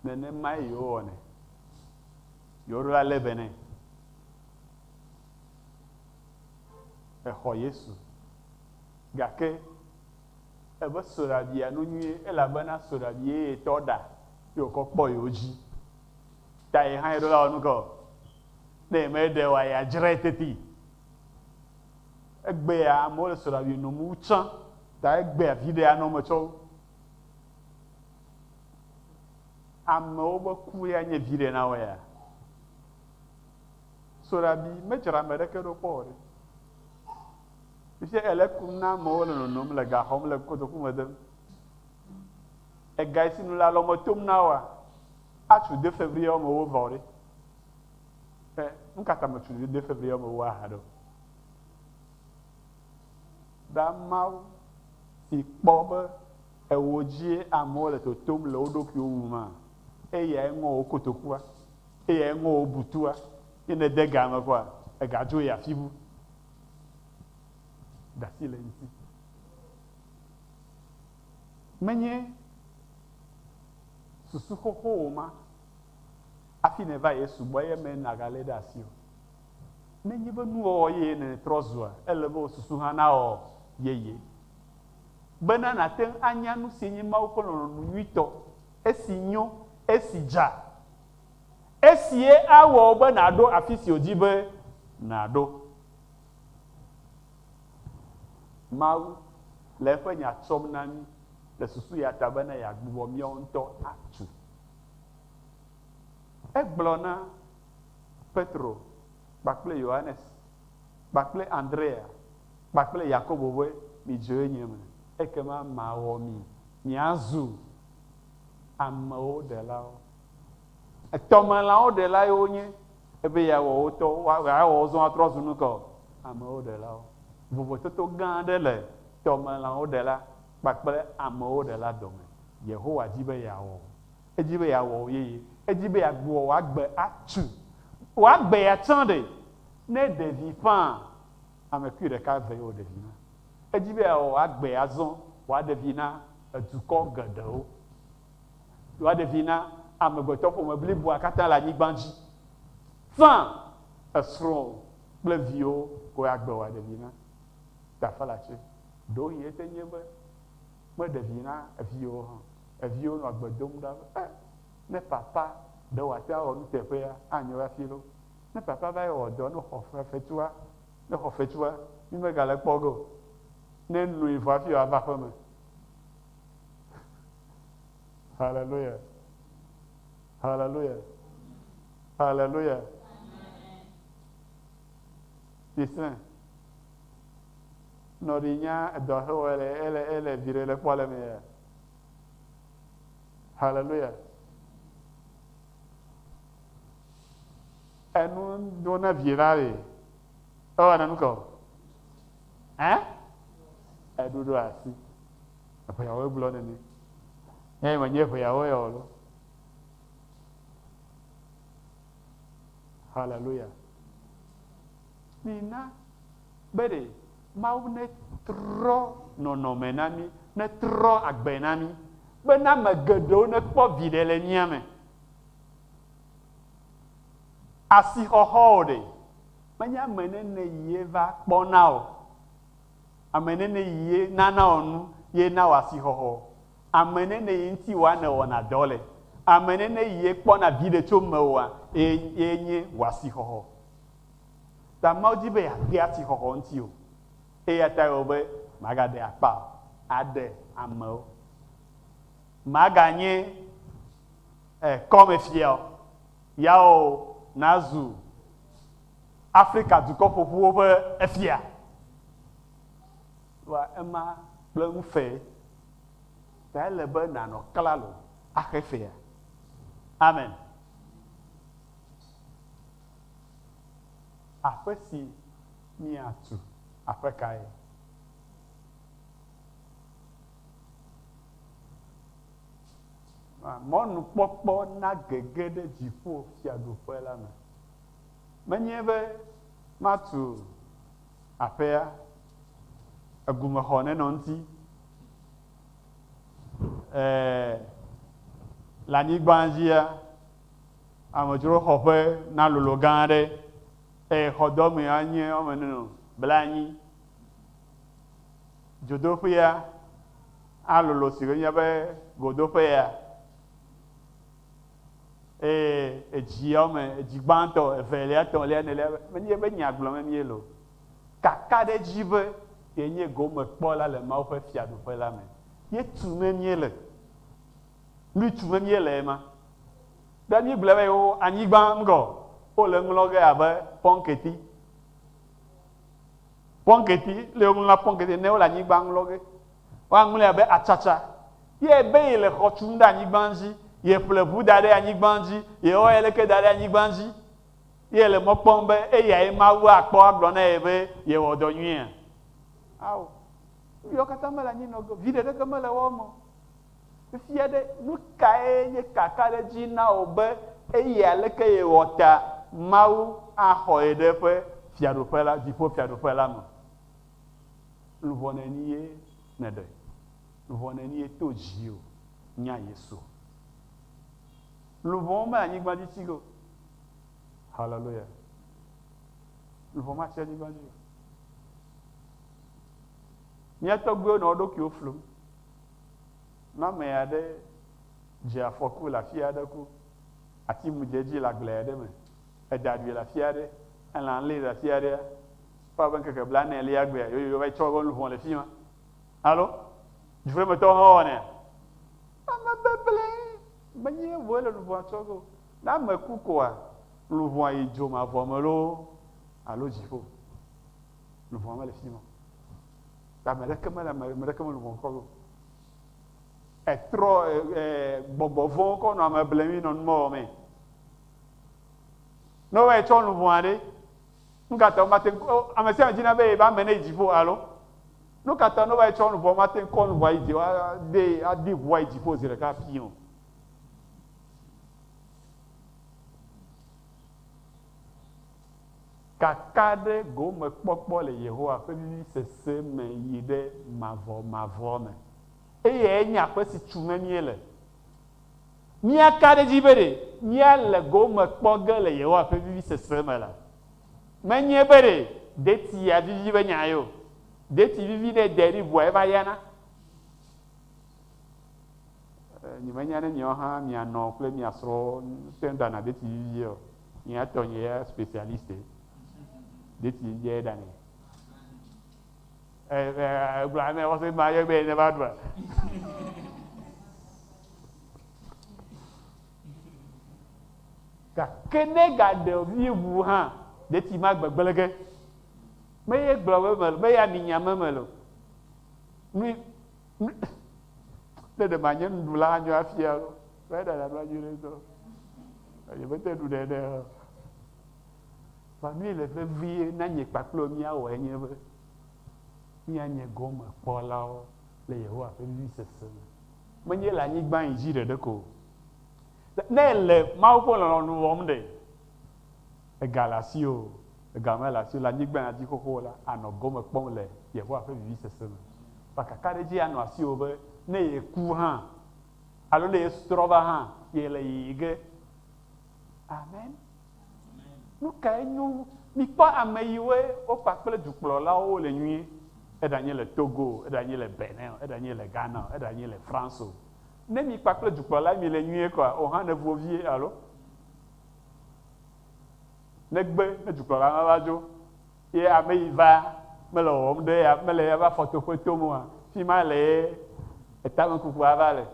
Nenemae yewo wɔnɛ. Yewo ɖo la le be ne. E xɔ Yesu. Gake. Eve soɖa bia nu nyuie elabena soɖa bi ye yetɔ ɖa ye wokɔ kpɔ yewo dzi ta ye hã yeɖo la wɔ nuke o. Ne ye me ɖe oa ya dzrae teti. Egbea amewo le soɖa bi nom wu tsã ta egbea viɖe anɔ eme tsɔ wu. Amewo be ku ya nye viɖe na wo ya. Soɖa bi me dzra ame ɖeke ɖo kpɔ o ɖe. Fifia èle kum na amewo le nonom, le ga xɔm, le kotoku me dem. Ega si nu le alɔme tom na woa? Atsu de fevri yɔ me wo vɔ ɖe? Ɛ, nu ka ta mètsu de fevri yɔ me wo aha ɖe o? Ɖa Mawu si kpɔ be ewò dzie amewo le totom le wo ɖokuiwo ŋu ma, eyae ŋɔ wò kotokua, eyae ŋɔ wò butua. Ne nède ga me kɔa, ègadzoe afi bu. Ɖasi le ŋti. Menye susu xoxo wò ma afi nèva Yesu gbɔ eye me nàgalé ɖe asi o. Nenye be nuwɔwɔ yeye nètrɔ zua, ele be wò susu hã nawɔ yeye. Bena nàte ŋu anya nusi nye Mawu ƒe lɔlɔ̃nu nyuitɔ, esi nyo, esi dza, Esie awɔ wò be nàɖo afi si wòdi be nàɖo. Mawu le eƒe Nya tsɔm na mí le susu ya ta bene yeagbugbɔ míawo ŋutɔ atu. Egblɔ na Petro kpakple Yohanes kpakple Andrea kpakple Yakobo be, Midzoe nye me, ekema mawɔ mi miazu amewo ɖelawo. Etɔmelãwo ɖelae wonye. Ebe yeawɔ wo tɔ, yeawɔ wo zɔ atrɔ zu nu ka o? Amewo ɖelawo. Vovototo gã aɖe le tɔmelãwo ɖela kpakple amewo ɖela dome. Yehowa di be yeawɔ wò. Edi be yeawɔ wò yeye. Edi be yeagbugbɔ wò agbe atu. Wò agbe ya tsã ɖe, ne ɖevi ƒãa, ame kpui ɖeka vee wò ɖevi na. Edi be yeawɔ wò agbe azɔ wòaɖe vi na edukɔ geɖewo. Ɖoa ɖevi na amegbetɔƒome bliboa katã le anyigba dzi. Fã, esrɔ̃wò kple viwò koe agbe wòa ɖevi na. Tafalatse, Ɖewohĩ ete nye be meɖe vi na eviwò o hã. Eviwo nɔa gbe dom ɖa be, Eh, ne papa ɖe wòate ŋu awɔ nuteƒea, anyo hafi loo. Ne papa va yi wɔ dɔ ne xɔ fe, fetua, ne xɔ fetua, mí megale kpɔ ge o. Ne noe vɔ hafi wòava aƒeme. Haleluya! Haleluya! Haleluya! Tisrɛ̃. Nɔɖi nya edɔ xe wɔ ele ele ele viɖe le kpɔ le me ya. Haleluya! Enu do na vi la le. Ewɔ na nu kɔ. Hã? Eɖuɖu asi. Eŋeawoe gblɔ nene. Ne menye eŋeawoe ya o lo. Haleluya. Mina be ɖe Mawu netrɔ nɔnɔme na mí, netrɔ agbe na mí bena ame geɖewo nekpɔ viɖe le mía me. Asixɔxɔ o ɖe, menye ame nene ye va kpɔna o. Ame nɛnɛ yi ye na nawɔ nu ye na wɔ asixɔxɔ. Ame nɛnɛ yi ŋuti wòa ne wɔna dɔ le. Ame nɛnɛ yi ye kpɔna viɖe tso mewòa ye nye wɔ asixɔxɔ. Ta Mawu di be yeade asixɔxɔ ŋuti o. Eya tae wɔ be magaɖe akpa o aɖe ame o. Maganye kɔmefia o. Yawo nazu Afrika dukɔ ƒoƒuwo ƒe efia ɖoa ema kple nu fee, ta ele be nànɔ klalo axe fea. Amen. Aƒe si míatu, aƒe kae? Mɔnukpɔkpɔ nagege ɖe dziƒo fiaɖuƒe la me. Menye be matu aƒea, egumexɔ nenɔ ŋuti, ẽ, le anyigba dzia, amedzroxɔƒe nalolo gã aɖe, eye xɔdɔmee anye woame ene nɔ blaenyi. Dzodoƒea alolo si wònye be godoƒe ya, Eye edziawo me, edzi gbãtɔ, evelia, etɔ̃lia, enelia, menye eƒe nya gblɔm míele o. Kakaɖedzi be yenye gomekpɔla le Mawu ƒe Fiaɖuƒe la me ye tume míele. Nui tume míele ema. Ɖe míegblɔe be yewo anyigba ŋgɔ wole eŋlɔ ge abe pɔnketi, pɔnketi, le woŋlɔna pɔnketi nɛ, wole anyigba ŋlɔ ge. Woaŋlɔe abe atsatsa. Yɛ be yele xɔ tum ɖe anyigba dzi, yeƒle ʋu da ɖe anyigba dzi, yewɔ yeleke da ɖe anyigba dzi. Yɛ yele mɔ kpɔm be eyae Mawu akpɔ agblɔ na ye be yewɔ dɔ nyuia? Ao. Nuyawo katã mele anyinɔge o. Viɖe ɖeke mele woawo me o. Fifia ɖe, nukae nye kakaɖedzi na wò be eyi aleke yewɔ ta Mawu axɔ ye ɖe eƒe Fiaɖuƒe la, Dziƒofiaɖuƒe la me? Luʋɔ neni ye nè ɖe? Luʋɔ neni ye to dzi o nya Yesu o. Luʋɔ me anyigba dzi tsi go. Hallelujah. Luʋɔ ma tsi anyigba dzi o. Mia tɔgbuiwo nɔ woɖokuiwo flum. Na ame aɖe dze afɔku le afi aɖe ku ati mu dze edzi le agble aɖe me. Èda ɖui le afi aɖe, elã lée le afi aɖea, kpɔa be ŋkeke blaenelea gbea, yoyoyo va yi tsɔ eƒe luʋɔ le fi ma. Alo dzuƒemetɔwo hã wɔnɛ. Ame beblee menye vɔe le luʋɔa tsɔ ge o. Ne ame ku koa, luʋɔa yi dzo mavɔ me loo alo dziƒo, luʋɔa mele fi ma o. Ta ame ɖeke mele ame ɖeke me luʋɔ kɔ ge o. Etrɔ, e, e, gbɔgbɔ vɔ̃wo kɔ nɔ ame bleŋui nɔ numewɔmee. Ne wowɔe tsɔ nu vɔ̃a ɖe, nu ka ta womate ŋu? Ame sia ame dina be yeƒe ame neyi dziƒo alo? Nu ka ta ne wowɔe tsɔ nu vɔ̃a womate ŋu kɔ nu vɔ̃a yi dzi ade adi ŋua yi dziƒo zi ɖeka ƒii o? Kakaɖe gomekpɔkpɔ le Yehowa ƒe vivisese me yi ɖe mavɔmavɔ me. Eyae nye aƒe si tu me míele. Míaka ɖe edzi be ɖe míale go me kpɔ ge le Yehowa ƒe vivisese me la, menye be ɖe detia vivi be nyae o. Deti vivi ne edea ɖi ʋua eva yana. E, nyemenya ne miawo hã mia nɔ kple mia srɔ̃ te dana deti vivia o. Nye etɔ nye ya specialiste. Deti vivia eɖanɛ. Egblɔ ne wɔse ma yɔ be ne va ɖua. Gake ne gaɖe vi ŋu hã, ɖeti ma gbegblẽ ge. Me ye gblɔ be mele, me ya mi nya me mele. Mi, mi, ne ɖe ma nye nuɖu la anyo afia lo. Ƒe ɖe la ɖo anyi ɖe tɔ. Ayi be te ɖu ɖe ɖe. Famille vevie na nye kpakple mi awɔ enye be Míanye gɔmekpɔlawo le Yehowa ƒe vevesese me, menye le anyigba yi dzi ɖeɖe ko o. Ne èle Mawu ƒe lɔlɔ̃nu wɔm ɖe, ega le asiwò o, ega mele asiwò o, le anyigba ya dzi xoxo la, ànɔ gɔme kpɔm le Yehowa ƒe vevesese me. Kpa kakaɖedzi anɔ asiwò be ne yeku hã alo ne yetrɔ va hã, yele yiyim ge. Amen. Nu kae nyo wu? Mikpɔ ame yiwoe wokpa kple dukplɔlawo wole nyuie. Eɖanye le Togo o, eɖanye le Benin o, eɖanye le Ghana o, eɖanye le France o. Ne mikpa kple dukplɔla mile nyuie kɔa, ohã nevu wo vie alo? Negbe ne dukplɔla la va dzo ye ame yi va mele wɔwɔm ɖe ya mele eƒe afɔtoƒe tom oa, fima le ye etamekukua va le.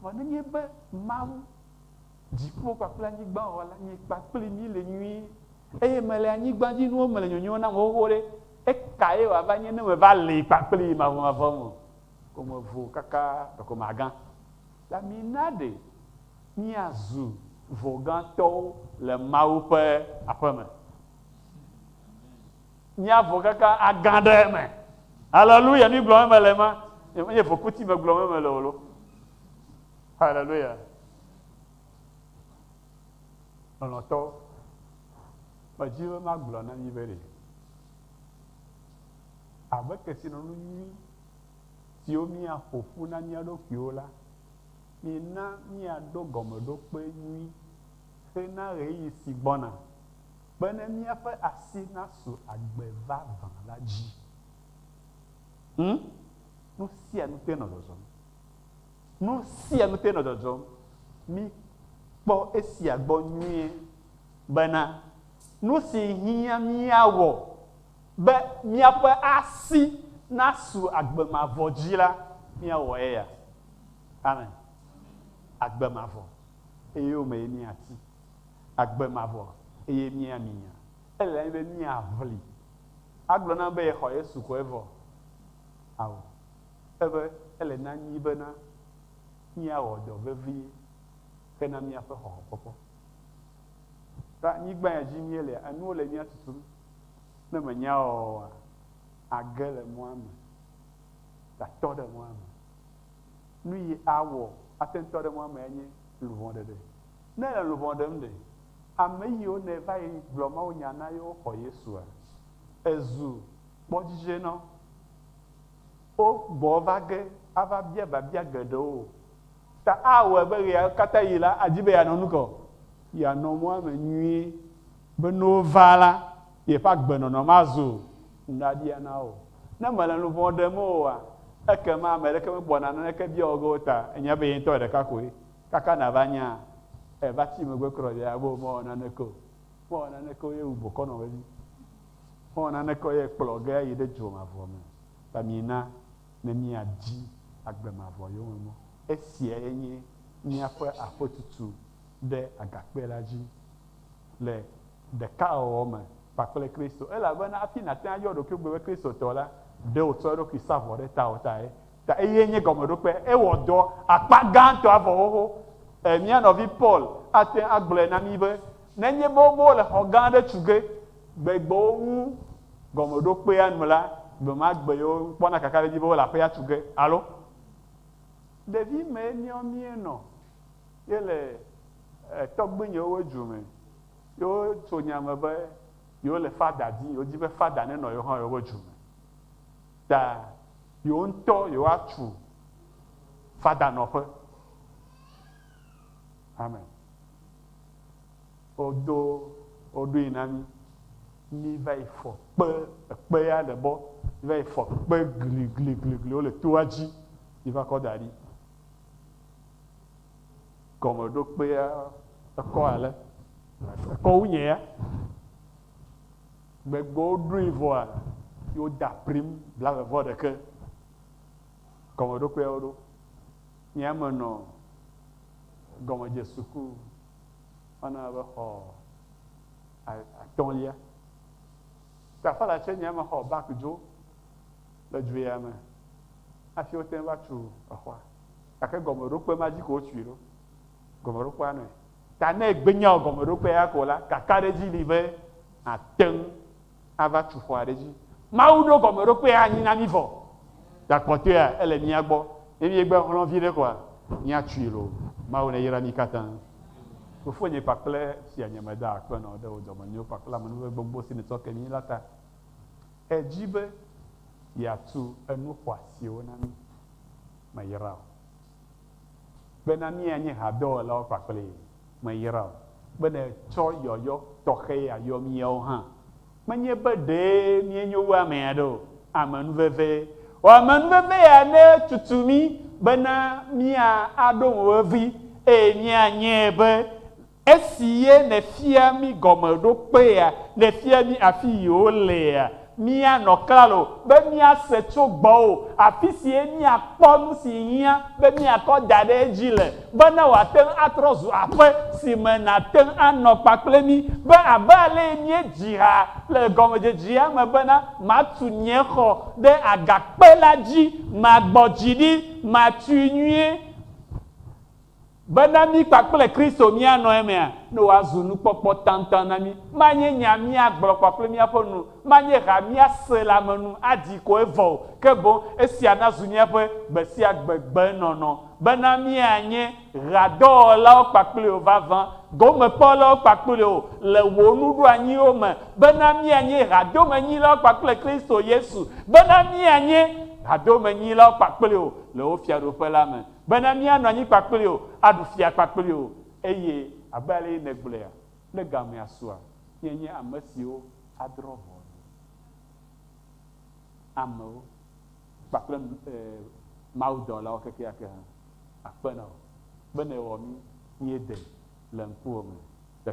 Vɔ nenye be Mawu Dziƒo kpakple anyigba Wɔla nye kpakpli mí le nyuie, eye mele anyigbadzinuwo me le nyonyo nam xoxo ɖe, ekae wòava nye ne meva li kpakplii mavɔmavɔ me ko mevo kaka ɖeko magã la? Mina ɖe míazu vɔgãtɔwo le Mawu ƒe aƒe me. Míavɔ kaka agã ɖe eme. Haleluya! Nu gblɔm mele ma, menye vokuti me gblɔm mele o lo. Haleluya! Lɔlɔ̃tɔ, medi be magblɔ na mi be ɖe abe kesinɔnu nyui siwo míaƒo ƒu na mía ɖokuiwo la, mina míaɖo gɔmeɖokpe nyui hena ɣeyiɣi si gbɔna, bene míaƒe asi nasu agbe vavã la dzi. Ŋ, nu sia nu toe nɔ zɔzɔm. Nu sia nu te nɔ dzɔdzɔm. Míkpɔ esia gbɔ nyuie bena nu si hiã míawɔ be míaƒe asi nasu agbe mavɔ dzi la, míawɔ eya. Amen. Agbe mavɔ, eye wo mee míati. Agbe mavɔ, eye míami nya. Ele na mí be míaʋli. Agblɔ na be yexɔ Yesu ko evɔ. Ao. Eve, ele na mí bena míawɔ dɔ vevie hena míaƒe xɔxɔkpɔkpɔ. Ɖo anyigba ya dzi míelea, enuwo le mía tutum. Ne mènyae oa, àge le mɔa me, tatɔ ɖe mɔa me. Nu yi awɔ ate ŋu tɔ ɖe mɔa mea nye luʋɔ ɖeɖe. Ne èle luʋɔ ɖem ɖe, ame yiwo nèe va yi gblɔ mawunya na yewo xɔ Yesua? Èzu kpɔdzidzɛ na wo. Wo gbɔ va ge ava bia biabia geɖewo o. Ta awɔe be ɣeya katã ɣi la, adi be yeanɔ nu ka o? Yeanɔ mɔa me nyuie be ne wova la, yeƒe agbenɔnɔ mazu nuɖaɖia na wo. Ne mele nu vɔ̃ ɖem oa, ekema ame aɖeke megbɔna naneke bia wò ge o ta enya be ye ŋutɔ ɖeka koe. Kaka nàva nya eva tsi megbe kura o, yeagblɔ be, Mewɔ naneke o. Mewɔ naneke o ye wu bokɔ nɔ vevi. Mewɔ naneke ye kplɔ ge ayi ɖe dzo mavɔ me ta mina ne miadzi agbe mavɔ yome mɔ. Esiae nye míaƒe aƒetutu ɖe agakpe la dzi le ɖekawɔwɔ me kpakple Kristo. Elabena hafi nàte ŋu ayɔ ɖokuiwò gbe be Kristotɔ la, ɖe wòtsɔ eɖokui sa vɔ ɖe tawò tae. Ta eye nye gɔmeɖokpe. Ewɔ dɔ akpa gãtɔ avɔxoxo. Ẽ, mía nɔvi Paul ate ŋu agblɔe na mí be, Nenye be wome wò le xɔ gã aɖe tu ge, Gbegbewo ŋu gɔmeɖokpea nu la, gbe ma gbe yewo kpɔna kakaɖedzi be wole aƒea tu ge alo ɖevi mee míawo míenɔ ye le tɔgbuinyewo ƒe du me ye wotso nya me be yewo le fada dim, yewo di be fada nenɔ yewo hã yewo ƒe du me ta yewo ŋutɔ yewo atu fadanɔƒe. Amen. Wo do wo ɖoe na mí. Mí va yi fɔ kpe, ekpe ya le bɔ. Mí va yi fɔ kpe gligligligliwo le toa dzi yi va kɔ da ɖi. Gɔmeɖokpea ekɔ ale, ekɔ wu nye ya. Gbegbe wo ɖoe vɔa, yi wo da prim blave vɔ ɖeke. Gɔmeɖokpea wo ɖo. Nye ya me nɔ gɔmedze suku. Mana mexɔ atɔ̃lia. Tafala tsɛ nyea mexɔ baki dzo le dzoea me hafi wote ŋu va tu exɔa. Gake gɔmeɖokpe ma dzi ko wotui ɖo. Gɔmeɖokpea nɔe. Ta ne ègbenyao gɔmeɖokpea ya ko la, kakaɖedzi li be nàte ŋu ava tu xɔa ɖe edzi. Mawu ɖo gɔmeɖokpee anyi na mí vɔ. Ta kpɔtɔea, ele mía gbɔ. Ne míegbe xlɔ̃ viɖe koa, míatui loo. Mawu neyra mí katã. Fofonye kpakple fianye meda akpe na wo ɖe wò dɔmenyo kpakple amenuveve gbogbo si nètsɔ ke mí la ta. Èdi be yeatu enu xɔasiwo na mí. Meyra wò. Bena míanye hadɔwɔlawo kpakplii. Meyra o be nètsɔ yɔyɔ tɔxɛ ya yɔ míawo hã. Menye be ɖee míenyo wu ame aɖe o. Amenuvevee. Wɔ amenuveve ya ne tutu mí bena mía aɖo mo vevi eye míanyae be Esi ye nèfia mí gɔmeɖokpea, nèfia mí afi yi wolea. Míanɔ klalo be míase tso gbɔwò, afi sie míakpɔ nu si hiã be míakɔ da ɖe edzi le, bene wòate ŋu atrɔ zu aƒe si me nàte ŋu anɔ kpakple mí, be abe alee míedzi ha le gɔmedzedzea me bena, Matu nye xɔ ɖe agakpe la dzi, magbɔ dzi ɖi, matui nyuie. Bena mí kpakple Kristo míanɔ emea, ne wòazu nukpɔkpɔ taŋtaŋ na mí. Manye nya míagblɔ kpakple míaƒe nu, manye ha míase le ame nu aɖi ko evɔ o, ke boŋ esia nazu míaƒe gbesiagbe gbenɔnɔ, bena míanye ɣeadɔwɔlawo kpakple wò vavã, gomekpɔlawo kpakple wò le wò nuɖoanyiwo me, bena míanye hadomenyilawo kpakple Kristo Yesu, bena míanye hadomenyilawo kpakple wò le wò Fiaɖuƒe la me. bene míanɔ anyi kpakpli wò, aɖu fia kpakpli wò. Eye abe alesi nègblɔea kple gamea sua, míanye ame siwo adrɔ̃ ʋɔnu amewo kpakple mawudɔlawo kekeake hã. Akpe na wò bene èwɔ mí míede le ŋkuwò me le